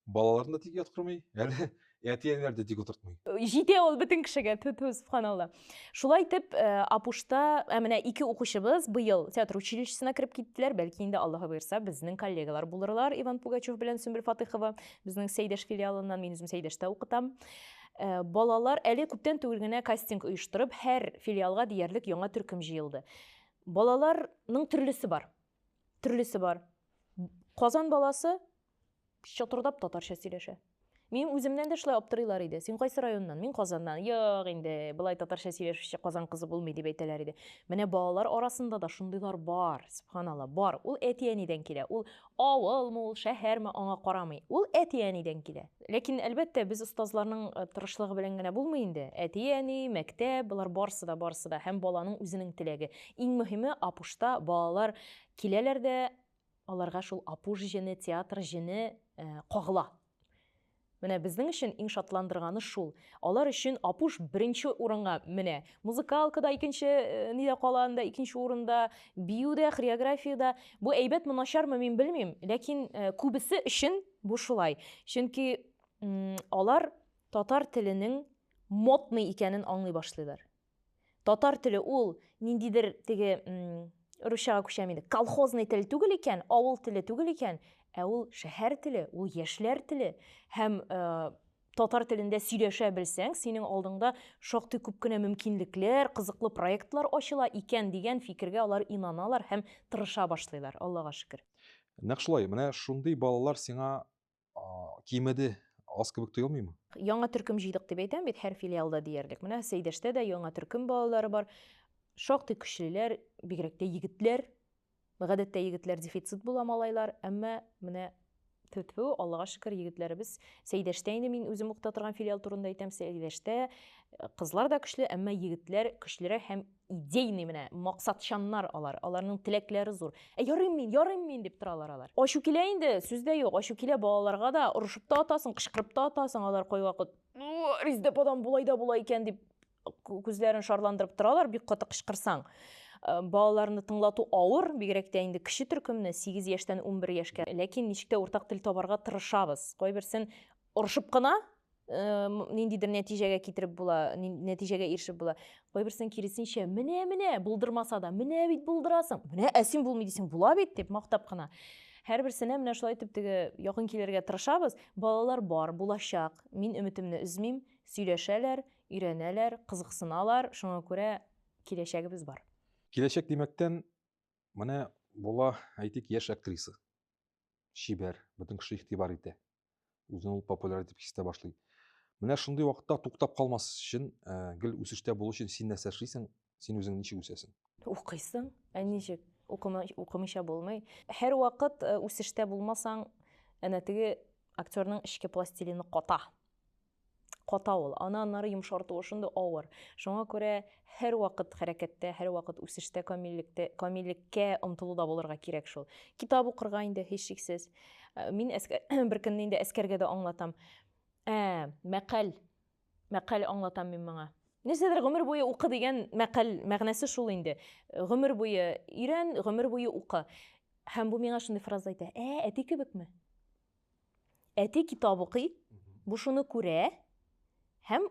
балаларын да тик яткырмый әле әти әниләр дә тик утыртмый җитә ул бөтен кешегә ту ту субханалла шулай итеп э, апушта ә менә ике укучыбыз быел театр училищесына кереп киттеләр бәлки инде аллаһы боерса безнең коллегалар булырлар иван пугачев белән сөмбел фатыйхова безнең сәйдәш филиалыннан мин үзем сәйдәштә укытам э, балалар әле күптән түгел генә кастинг оештырып һәр филиалга диярлек яңа төркем җыелды балаларның төрлесе бар төрлесе бар казан баласы Чатырдап татарча сөйләшә. Минем үземнән дә шулай аптырыйлар иде. Син кайсы районнан? Мин Казаннан. Юк инде, болай татарча сөйләшүче Казан кызы булмый дип әйтәләр иде. Менә балалар арасында да шундыйлар бар, субханалла, бар. Ул әти-әнидән килә. Ул авылмы, ул шәһәрме, аңа карамый. Ул әти-әнидән килә. Ләкин, әлбәттә, без остазларның э, тырышлыгы белән генә булмый инде. Әти-әни, мәктәп, болар барсы да, барсы да һәм баланың үзенең теләге. Иң мөһиме, апушта балалар киләләр дә Аларга шул Апуш җене, театр җене кагыла. Менә безнең өчен иң шатландырганы шул. Алар өчен Апуш беренче урынга менә. Музыкалка да икенче нидә кала анда, икенче урында, бию дә, хореография дә. Бу әйбәтме, начармы, мин белмим, ләкин күбесе өчен бу шулай. Чөнки алар татар теленең модный икәнен аңлый башлыйлар. Татар теле ул ниндидер теге русчага күчәм инде. Колхозный тел түгел икән, авыл теле түгел икән, ә ул шәһәр теле, ул яшьләр теле һәм э, татар телендә сөйләшә белсәң, синең алдыңда шактый күп кенә мөмкинлекләр, кызыклы проектлар ачыла икән дигән фикергә алар инаналар һәм тырыша башлыйлар, Аллага шөкер. Нәкъ шулай, менә шундый балалар сиңа кимеде аз кебек тоелмыймы? Яңа төркем җыйдык дип әйтәм бит һәр филиалда диярлек. Менә Сәйдәштә дә яңа төркем балалары бар. Шактый көчлеләр, бигрәк тә егетләр. Гадәттә егетләр дефицит була малайлар, әмма менә төтфү, Аллага шөкер, егетләребез Сәйдәштә инде мин үзем укыта торган филиал турында әйтәм, Сәйдәштә э, кызлар да көчле, әмма егетләр көчлерәк һәм идейный менә максатчаннар алар, аларның теләкләре зур. Ә ярыйм мин, ярыйм мин дип торалар алар. Ачу килә инде, сүз дә юк, ачу килә балаларга да, орышып та атасың, кычкырып та атасың, алар кайвакыт, ну, Риздәп адам болай да була икән дип күзләрен шарландырып торалар, бик каты кычкырсаң. Э, балаларны тыңлату авыр, бигрәк тә инде кече төркемне 8 яшьтән 11 яшькә. Ләкин ничек тә уртак тел табарга тырышабыз. Кайберсен орышып кына ниндидер нәтиҗәгә китереп була, нәтиҗәгә ирешеп була. Кайберсен киресенчә, менә, менә, булдырмаса да, менә бит булдырасың, менә әсин булмый дисең, була бит, дип мактап кына. Һәрберсенә менә шулай итеп теге якын килергә тырышабыз. Балалар бар, булачак. Мин өметемне өзмим, сөйләшәләр, өйрәнәләр, кызыксыналар, шуңа күрә киләчәгебез бар. Киләчәк димәктән, менә була, әйтик, яшь актриса. Чибәр, бөтен кеше игътибар итә. үзен ул популяр дип хистә башлый менә шундый вакытта туктап калмас өчен ә, гел үсештә булу өчен син нәрсә эшлисең син үзең ничек үсәсең укыйсың ә ничек укымыйча булмый һәр вакыт үсештә булмасаң әнә теге актерның эчке пластилины ката ката ул. Аны аннары йомшартуы шундый авыр. Шуңа күрә һәрвакыт хәрәкәттә, һәрвакыт үсештә, камиллектә, камиллеккә омтылуда булырга кирәк шул. Китап укырга инде һичшиксез. Э, мин әскәр, бер көнне инде әскәргә дә аңлатам. Ә, мәкаль. Мәкаль аңлатам мин моңа. Нәрсәдер гомер буе укы дигән мәкаль мәгънәсе шул инде. Гомер буе өйрән, гомер буе укы. Һәм бу миңа шундый фраза әйтә. Ә, әти кебекме? Әти китап укый, бу шуны күрә һәм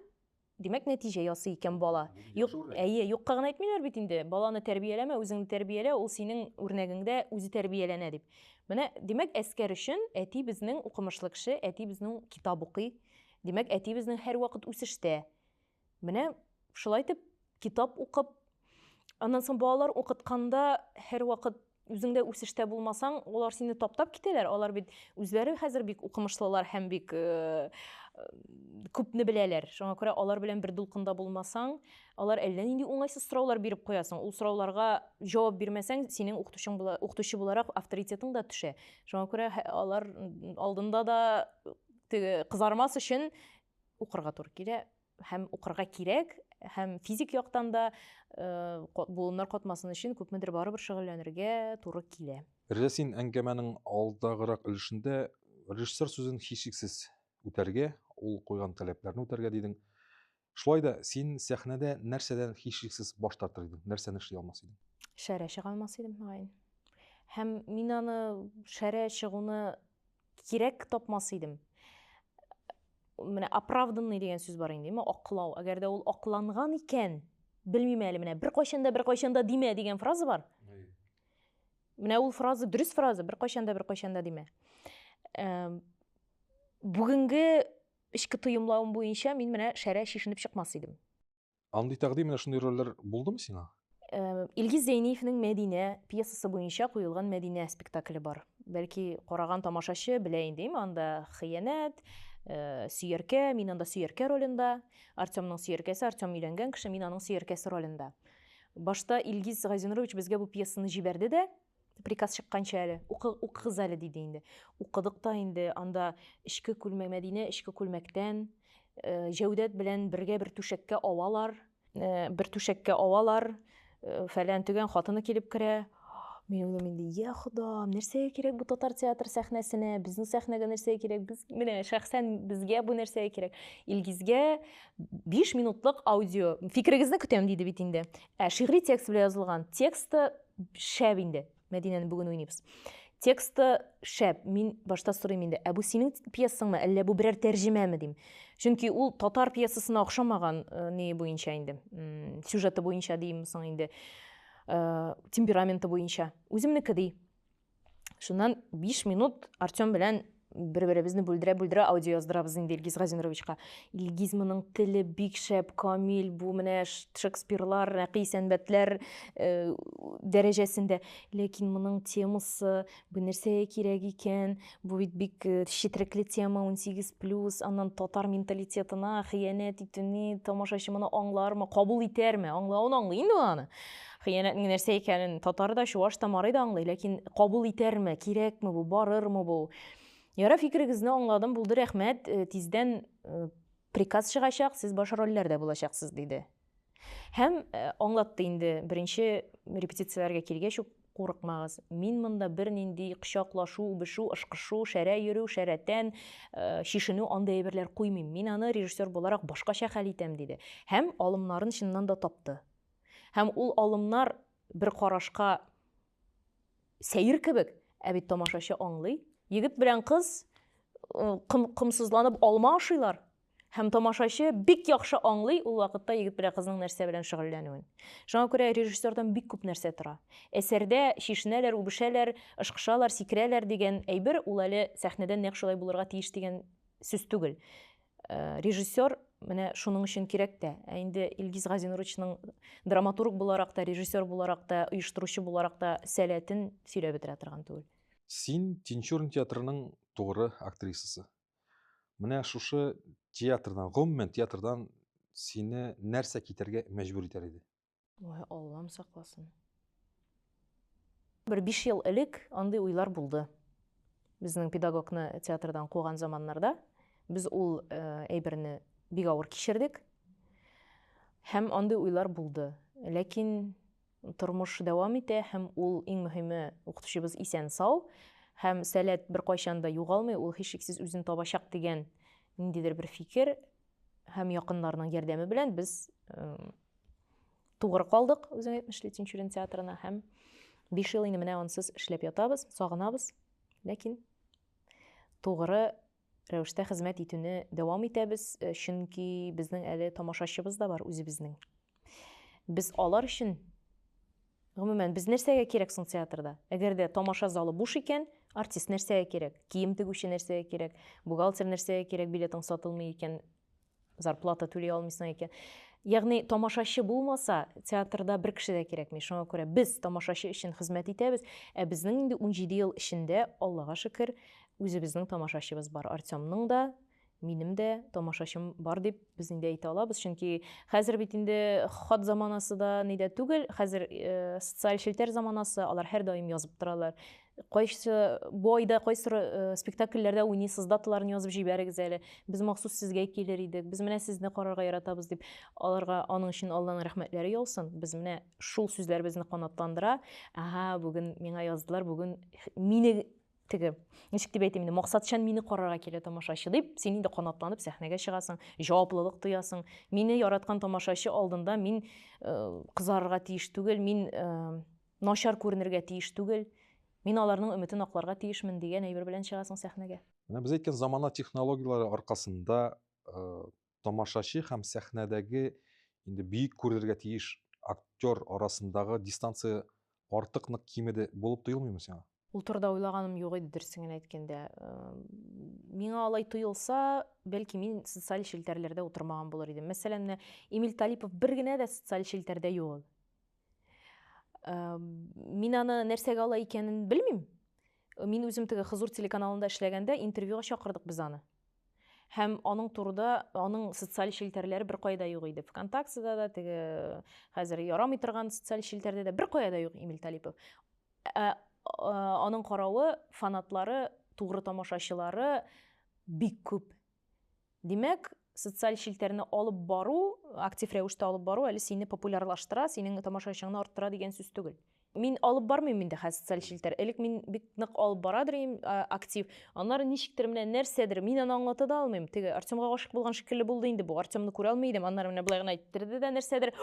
димәк нәтиҗә ясый икән бала. Юк, әйе, юкка гына әйтмиләр бит инде, баланы тәрбияләмә, үзеңне тәрбиялә, ул синең үрнәгеңдә үзе тәрбияләнә дип. Менә димәк әскәр өчен әти безнең укымышлы кеше, әти безнең китап укый, димәк әти безнең һәрвакыт үсештә. Менә шулай итеп китап укып, аннан соң балалар укытканда һәрвакыт үзеңдә үсештә булмасаң, алар сине таптап китәләр. Алар бит үзләре хәзер бик укымышлылар һәм бик э, күпне беләләр. Шуңа күрә алар белән бер дулкында булмасаң, алар әллә нинди уңайсыз сораулар биреп куясың. Ул сорауларга җавап бирмәсәң, синең укытучың була, укытучы буларак авторитетың да төшә. Шуңа күрә алар алдында да кызармас өчен укырга туры килә һәм укырга кирәк һәм физик яктан да э, буыннар катмасын өчен күпмедер барыбер шөгыльләнергә туры килә Рәзә син әңгәмәнең алдагырак өлешендә режиссер сүзен һичшиксез үтәргә ул куйган таләпләрне үтәргә дидең шулай да син сәхнәдә нәрсәдән һичшиксез баш тартыр идең нәрсәне эшли алмас идең шәрә чыга алмас идем мөгаен һәм мин аны шәрә чыгуны кирәк тапмас идем менә оправданный дигән сүз бар инде ме аклау әгәр дә ул акланган икән белмим әле менә беркайчан да беркайчан да димә дигән фраза бар менә ул фраза дөрес фраза беркайчан да беркайчан да димә бүгенге эчке тоемлавым буенча мин менә шәрә чишенеп чыкмас идем Андый тәкъдим менә шундый рольләр булдымы сиңа? Илгиз Зәйниевнең Мәдинә пьесасы буенча куелган Мәдинә спектакле бар. Бәлки караган тамашачы белә инде, әйме анда хыянәт, э, сөяркә, мин анда сөяркә ролендә, Артемның сөяркәсе, Артем өйләнгән кеше, мин аның сөяркәсе ролендә. Башта Илгиз Газинурович безгә бу пьесаны җибәрде дә, приказ чыкканча әле укыгыз әле диде инде укыдык та инде анда эчке күлмәк мәдинә эчке күлмәктән э, җәүдәт белән бергә бер түшәккә авалар э, бер түшәккә авалар э, фәлән төгән хатыны килеп керә мин уйлыйм инде я ходам нәрсәгә кирәк бу татар театр сәхнәсенә безнең сәхнәгә нәрсәгә кирәк без менә шәхсән безгә бу нәрсәгә кирәк илгизгә биш минутлык аудио фикерегезне көтәм диде бит инде ә шигъри текст белән язылган тексты Шәп инде. Мәдинәне бүген уйныйбыз. Тексты шәп. Мин башта сорыйм инде, ә бу синең пьесаңмы, әллә бу берәр тәрҗемәме дим. Чөнки ул татар пьесасына охшамаган э, не буенча инде. Сюжеты буенча дим соң инде. Э, темпераменты буенча. Үземнеке ди. Шуннан 5 минут Артем белән бер-беребезне бүлдерә-бүлдерә аудио яздырабыз инде Илгиз Газинуровичка. Илгиз моның теле бик шәп, камил, бу менә Шекспирлар, рәкый сәнбәтләр э, дәрәҗәсендә. Ләкин моның темасы бу нәрсәгә кирәк икән? Бу бит бик э, четрекле тема 18+, аннан татар менталитетына хыянәт итүне тамашачы моны аңлармы, кабул итәрме? Аңлавын аңлый инде аны. Хыянәтнең нәрсә икәнен татар да, чуваш та, марый да аңлый, ләкин кабул итәрме, кирәкме бу, барырмы бу? Ярар, фикерегезне аңладым, булды, рәхмәт. Э, тиздән э, приказ чыгачак, сез баш рольләрдә булачаксыз, диде. Һәм э, аңлатты инде, беренче репетицияләргә килгәч үк курыкмагыз. Мин монда бернинди кочаклашу, үбешү, ышкышу, шәрә йөрү, шәрәтән, шишенү андый әйберләр куймыйм. Мин аны режиссер буларак башкача хәл итәм, диде. Һәм алымнарын чыннан да тапты. Һәм ул алымнар бер карашка сәер кебек, ә бит тамашачы аңлый. Егет белән кыз ком, комсызланып алма ашыйлар. Һәм тамашачы бик яхшы аңлый ул вакытта егет белән кызның нәрсә белән шөгыльләнүен. Шуңа күрә режиссердан бик күп нәрсә тора. Әсәрдә шешенәләр, үбешәләр, ышкышалар, сикерәләр дигән әйбер ул әле сәхнәдә нәкъ шулай булырга тиеш дигән Сүз түгел. Э, режиссер менә шуның өчен кирәк тә. Ә инде Илгиз Газинуровичның драматург буларак та, режиссер буларак та, оештыручы буларак та сәләтен сөйләп бетерә торган түгел. Син Тинчурин театрының тугры актрисасы. Менә шушы театрдан, гомумән театрдан сине нәрсә китәргә мәҗбүр итәр иде? Ой, Аллам сакласын. Бер биш ел элек андый уйлар булды. Безнең педагогны театрдан куган заманнарда без ул э, әйберне бик авыр кичердек. Һәм андый уйлар булды. Ләкин тормыш дәвам итә һәм ул иң мөһиме укытучыбыз исән сау һәм сәләт беркайчан да югалмый, ул һичшиксез үзен табачак дигән ниндидер бер фикер Һәм якыннарның ярдәме белән без тугры калдык үзең әйтмешли тинчурин театрына һәм биш ел инде менә ансыз эшләп ятабыз сагынабыз ләкин тугры рәвештә хезмәт итүне дәвам итәбез э, чөнки безнең әле тамашачыбыз да бар үзебезнең без алар өчен Гомумән, без нәрсәгә кирәк соң театрда? Әгәр дә тамаша залы буш икән, артист нәрсәгә кирәк? Кием тегүче нәрсәгә кирәк? Бухгалтер нәрсәгә кирәк? Билетың сатылмый икән, зарплата түли алмыйсың икән. Ягъни тамашачы булмаса, театрда бер кеше дә кирәкми. Шуңа күрә без тамашачы өчен хезмәт итәбез. Ә безнең инде 17 ел эчендә, Аллага шөкер, үзебезнең тамашачыбыз бар. Артемның да, минем дә тамашачым бар дип без инде әйтә алабыз чөнки хәзер бит инде хат заманасы да ни дә түгел хәзер э, социаль челтәр заманасы алар һәрдаим язып торалар кайсы бу айда кайсы э, спектакльләрдә уйныйсыз даталарын язып җибәрегез әле без махсус сезгә килер идек без менә сезне карарга яратабыз дип аларга аның өчен алланың рәхмәтләре яусын без менә шул сүзләр безне канатландыра ага бүген миңа яздылар бүген мине теге ничек дип әйтим инде максатчан мине карарга килә тамашачы дип син инде канатланып сәхнәгә чыгасың җаваплылык тоясың мине яраткан тамашачы алдында мин э, кызарырга тиеш түгел мин э, начар күренергә тиеш түгел мин аларның өметен акларга тиешмен дигән әйбер белән чыгасың сәхнәгә менә без әйткән замана технологияләре аркасында э, тамашачы һәм сәхнәдәге инде бөек күрергә тиеш актер арасындагы дистанция артык нык кимеде булып тоелмыймы сиңа? Ул турыда уйлаганым юк иде, дөресен генә әйткәндә. Миңа алай тоелса, бәлки мин социаль челтәрләрдә утырмаган булыр идем. Мәсәлән, менә Эмиль Талипов бер генә дә социаль челтәрдә юк ул. Мин аны нәрсәгә ала икәнен белмим. Мин үзем теге Хызур телеканалында эшләгәндә интервьюга чакырдык без аны. Һәм аның турыда, аның социаль челтәрләре бер кайда юк иде. Вконтактеда да, теге хәзер ярамый торган социаль челтәрдә дә бер кайда юк Эмиль Талипов. Ә, ә, аның каравы, фанатлары, тугры тамашачылары бик күп. Димәк, социаль челтәрне алып бару, актив рәвештә алып бару әле сине популярлаштыра, синең тамашачыңны арттыра дигән сүз түгел. Мин алып бармыйм инде хәзер социаль челтәр. Элек мин бик нык алып барадыр идем, актив. Аннары ничектер менә нәрсәдер, мин аны аңлата да алмыйм. Теге Артемга гашык булган шикелле булды инде бу. Артемны күрә алмый идем. Аннары менә болай гына иттерде дә нәрсәдер.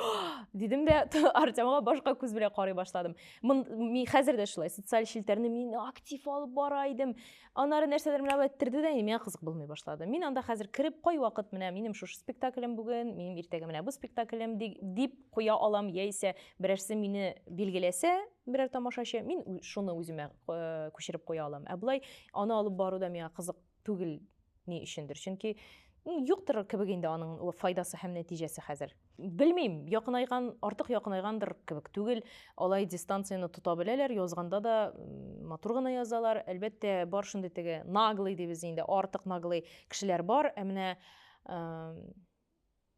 Дидем дә Артемга башка күз белән карый башладым. Мин хәзер дә шулай социаль челтәрне мин актив алып бара идем. Аннары нәрсәдер менә болай ттерде дә, миңа кызык булмый башлады. Мин анда хәзер кереп, кайвакыт менә минем шушы спектаклем бүген, минем иртәгә менә бу спектаклем ди- дип куя алам, яисә берәрсе мине билгеләсә, берәр тамашачы, мин ү- шуны үземә э, күчереп куя алам. Ә болай аны алып бару да миңа кызык түгел Ни өчендер? Чөнки юктыр кебек инде аның файдасы һәм нәтиҗәсе хәзер. Белмим, якынайган, артык якынайгандыр кебек түгел. Алай дистанцияне тота беләләр, язганда да матур гына язалар. Әлбәттә, бар шундый теге наглый дибез инде, артык наглый кешеләр бар. Ә менә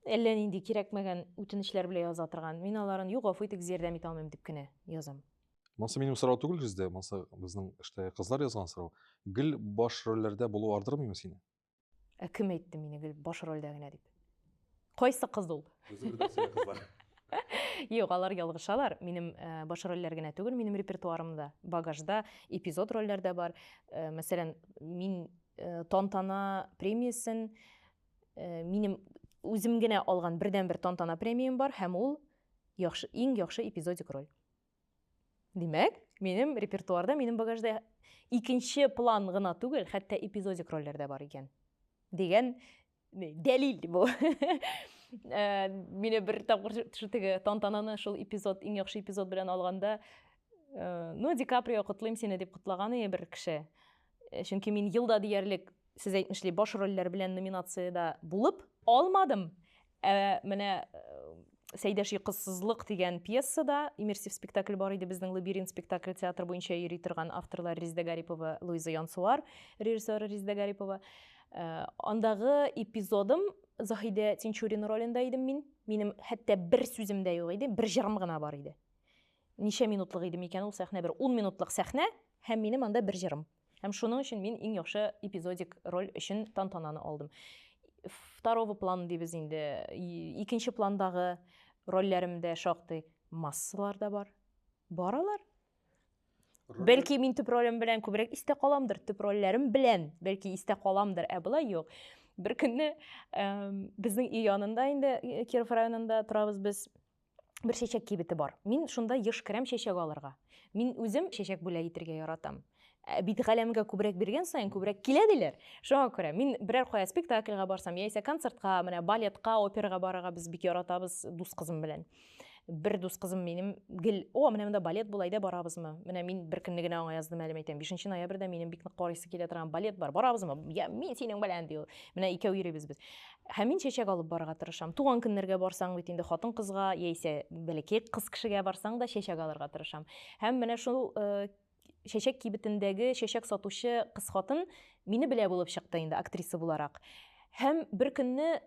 Әллә нинди кирәкмәгән үтенечләр белән яза торган. Мин аларын юк, гафу итегез, ярдәм итә алмыйм дип кенә язам. Монысы минем сорау түгел сездә, монысы безнең эштә кызлар язган сорау. Гел баш рольләрдә булу ардырмыймы сине? Ә кем әйтте мине гел баш рольдә генә дип? Кайсы кыз ул? Юк, алар ялгышалар. Минем э, баш рольләр генә түгел, минем репертуарымда, багажда эпизод рольләр дә бар. Э, мәсәлән, мин э, Тантана премиясен Э, минем үзем генә алган бердән бер тантана премиям бар һәм ул яхшы иң яхшы эпизодик роль димәк минем репертуарда минем багажда икенче план гына түгел хәтта эпизодик рольләр дә бар икән дигән дәлил бу э, мине бер тапкыр теге тантананы шул эпизод иң яхшы эпизод белән алганда э, ну ди каприо котлыйм сине дип котлаган ие бер кеше чөнки мин елда диярлек Сез әйтмешли, баш рольләр белән номинациядә булып. Алмадым! Ә менә Сәйдәш йокысызлык дигән пьесада иммерсив спектакль бар иде безнең Лабиринт спектакль театр буенча йөри торган авторлар Резда Гарипова, Луиза Янсуар, режиссер Резда Гарипова. Э, андагы эпизодым Заһидә Тинчурин ролендә идем мин. Минем хәтта бер сүзем дә юк иде, бер җырым гына бар иде. Ничә минутлык идем икән ул сәхнә? Бер 10 минутлык сәхнә һәм минем анда бер җырым. Һәм шуның өчен мин иң яхшы эпизодик роль өчен тантананы алдым. Второго план дибез инде. Икенче пландагы рольләремдә шактый массалар да бар. Баралар. Роль... Бәлки мин төп ролем белән күбрәк истә каламдыр, төп рольләрем белән бәлки истә каламдыр, ә болай юк. Бер көнне ә, безнең өй янында инде Киров районында торабыз без. Бер чәчәк кибете бар. Мин шунда еш керәм чәчәк алырга. Мин үзем чәчәк бүләк итергә яратам. Ә бит галәмгә күбрәк биргән саен күбрәк килә диләр. Шуңа күрә мин берәр кая спектакльгә барсам, яисә концертка, менә балетка, операга барырга без бик яратабыз дус кызым белән. Бер дус кызым минем гел, "О, менә монда балет була, әйдә барабызмы?" Менә мин бер көнне генә аңа яздым әле, әйтәм, 5 ноябрьдә минем бик нык карыйсы килә торган балет бар, барабызмы? Я, мин синең белән, ди ул. Менә икәү йөрибез без. Һәм мин чәчәк алып барырга тырышам. Туган көннәргә барсаң бит инде хатын-кызга, яисә бәләкәй кыз кешегә барсаң да чәчәк алырга тырышам. Һәм менә шул чәчәк кибетендәге чәчәк сатучы кыз хатын мине белә булып чыкты инде актриса буларак. Һәм бер көнне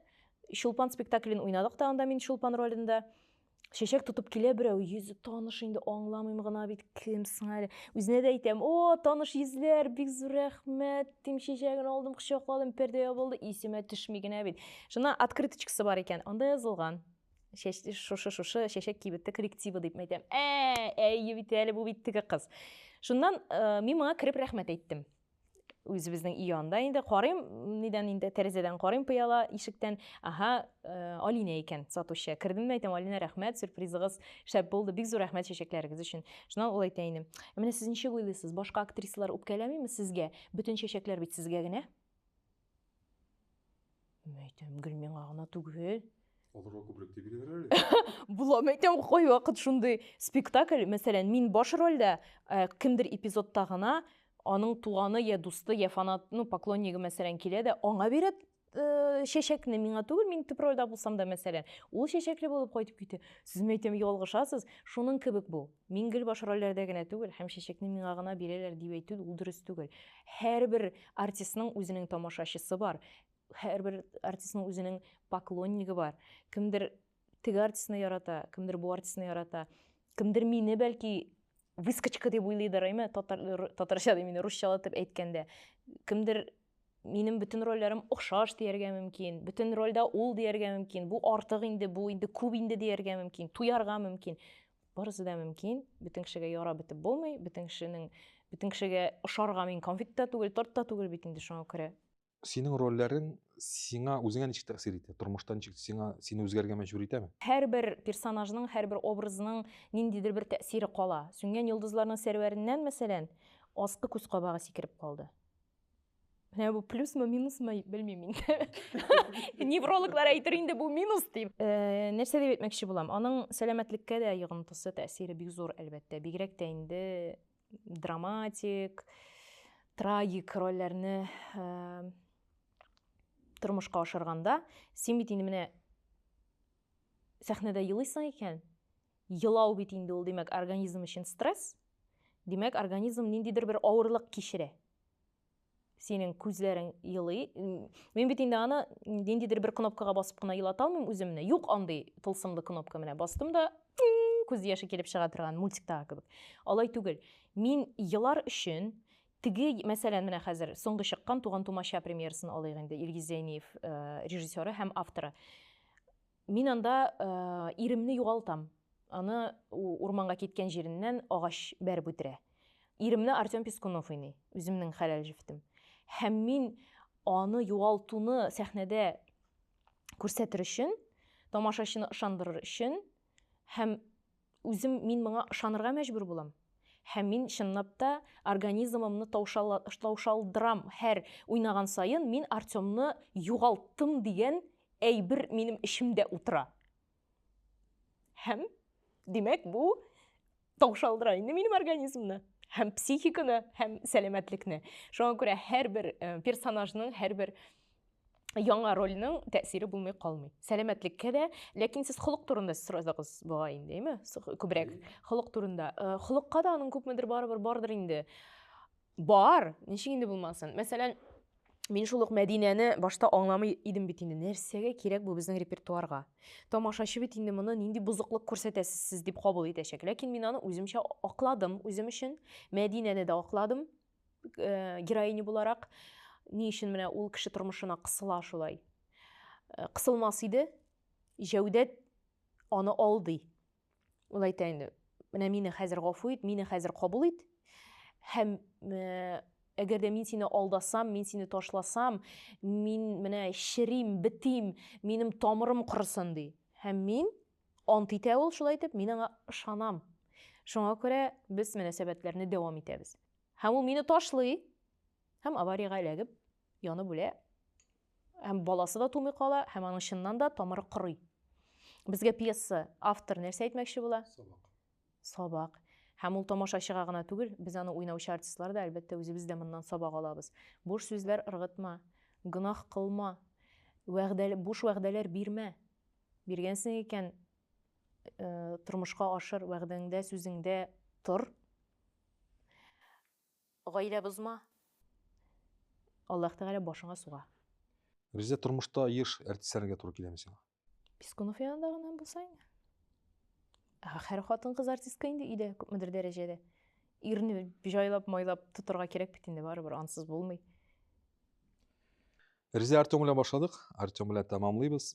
Чулпан спектаклен уйнадык та анда мин Чулпан ролендә. Чәчәк тотып килә берәү, йөзе таныш инде, аңламыйм гына бит, кем соң әле. Үзенә дә әйтәм, о, таныш йөзләр, бик зур рәхмәт, дим, чәчәген алдым, кочакладым, пәрдә ябылды, исемә төшми генә бит. Шунда открыточкасы бар икән, анда язылган. Шушы, шушы, чәчәк кибетте коллективы дип мәйтәм. Ә, әйе бит әле, бу бит теге кыз. Шуннан э, мин моңа кереп рәхмәт әйттем. үзебезнең өй янында инде карыйм нидән инде тәрәзәдән карыйм пыяла ишектән аха э, алинә икән сатучы кердем дә әйтәм алинә рәхмәт сюрпризыгыз шәп булды бик зур рәхмәт чәчәкләрегез өчен шуннан ул әйтә инде менә сез ничек уйлыйсыз башка актрисалар үпкәләмиме сезгә бөтен чәчәкләр бит сезгә генә Мин әйтәм, гел миңа гына түгел. Аларга күбрәк дип бирәләр әле. Була, мин әйтәм, кайвакыт шундый спектакль, мәсәлән, мин баш рольдә, э, кемдер эпизодта гына аның туганы я дусты, я фанат, ну, поклоннигы, мәсәлән, килә дә, аңа бирә э, чәчәкне, миңа түгел, мин төп рольдә булсам да, мәсәлән, ул чәчәкле булып кайтып китә. Сез, мин әйтәм, ялгышасыз, шуның кебек бу. Мин гел баш рольләрдә генә түгел һәм чәчәкне миңа гына бирәләр дип әйтү ул дөрес түгел. Һәрбер артистның үзенең тамашачысы бар, һәрбер артистның үзенең поклоннигы бар. Кемдер теге артистны ярата, кемдер бу артистны ярата. Кемдер мине бәлки выскочка дип уйлыйдыр, әйме, татар, татарча дип, мине русчалатып әйткәндә. Кемдер минем бөтен рольләрем охшаш дияргә мөмкин, бөтен рольдә ул дияргә мөмкин, бу артык инде, бу инде күп инде дияргә мөмкин, туярга мөмкин. Барысы да мөмкин. Бөтен кешегә ярап бетеп булмый. Бөтен кешенең бөтен кешегә ошарга мин конфет та түгел, торт та түгел бит инде шуңа күрә. Синең рольләрең сиңа үзеңә ничек тәэсир итә? Тормышта ничек сиңа сине үзгәргә мәҗбүр итәме? Һәрбер персонажның, һәрбер образның ниндидер бер тәэсире кала. Сүнгән йолдызларның сәрвәреннән, мәсәлән, аскы күз кабагы сикереп калды. Менә бу плюсмы, минусмы, белмим инде. Неврологлар әйтер инде бу минус дип. Э, нәрсә дип әйтмәкче булам? Аның сәламәтлеккә дә йогынтысы, тәэсире бик зур, әлбәттә. Бигрәк тә инде драматик, трагик рольләрне э, тормышка ашырганда, син бит инде менә сәхнәдә елыйсың икән, елау бит инде ул, димәк, организм өчен стресс. Димәк, организм ниндидер бер авырлык кичерә. синең күзләрең елый мин бит инде аны ниндидер бер кнопкага басып кына елата алмыйм үземне юк андый тылсымлы кнопка менә бастым да күз яше килеп чыга торган мультиктагы кебек алай түгел мин елар өчен теге мәсәлән менә хәзер соңгы чыккан туган тумача премьерасын алыйк инде илгиз зәйниев э, режиссеры һәм авторы Мин анда иремне югалтам. Аны урманга киткән җиреннән агач бәреп үтерә. Иремне Артем Пескунов уйный, үземнең хәләл җефтем. Һәм мин аны югалтуны сәхнәдә күрсәтер өчен, тамашачыны ышандырыр өчен һәм Үзем мин моңа ышанырга мәҗбүр булам. Һәм мин чынлап та организмымны таушалдырам, һәр уйнаган саен мин Артемны югалттым дигән әйбер минем эчемдә утыра. Һәм, димәк, бу таушалдыра инде минем организмны һәм психиканы, һәм сәламәтлекне. Шуңа күрә һәрбер э, персонажның, һәрбер яңа рольнең тәэсире булмый калмый. Сәламәтлеккә дә, ләкин сез холык турында сорадыгыз бугай инде, әйме? Күбрәк холык турында. Э, холыкка да аның күпмедер барыбер бардыр инде. Бар, ничек инде булмасын. Мәсәлән, мин шул ук Мәдинәне башта аңламый идем бит инде. Нәрсәгә кирәк бу безнең репертуарга? Тамашачы бит инде моны нинди бозыклык күрсәтәсез сез дип кабул итәчәк. Ләкин мин аны үземчә акладым, үзем өчен. Мәдинәне дә акладым. э, героиня буларак ни өчен менә ул кеше тормышына кысыла шулай э, кысылмас иде җәүдәт аны алдый ул әйтә инде менә мине хәзер гафу ит мине хәзер кабул ит һәм э, әгәр дә мин сине алдасам мин сине ташласам мин менә черим бетим минем тамырым корысын ди һәм мин Ант итә ул шулай итеп, мин аңа ышанам. Шуңа күрә без мөнәсәбәтләрне дәвам итәбез. Һәм ул мине ташлый һәм авариягә эләгеп, янып үлә. Һәм баласы да тумый кала, һәм аның чыннан да тамыры корый. Безгә пьеса автор нәрсә әйтмәкче була? Сабак. Сабак. Һәм ул тамашачыга гына түгел, без аны уйнаучы артистлар да, әлбәттә, үзебез дә моннан сабак алабыз. Буш сүзләр ыргытма, гөнаһ кылма, вәгъдәле, буш вәгъдәләр бирмә. Биргәнсең икән, э, тормышка ашыр, вәгъдәңдә, сүзеңдә тор. Гаилә бозма. Аллаһ Тәгалә башыңа суга. Бездә тормышта еш әртисләргә туры киләме сиңа? Пискунов янында гына булса инде. Һәр хатын-кыз артистка инде өйдә күпмедер дәрәҗәдә. Ирне җайлап, майлап тотарга кирәк бит инде барыбер, ансыз булмый. Резидә Артем белән башладык, Артем белән тәмамлыйбыз.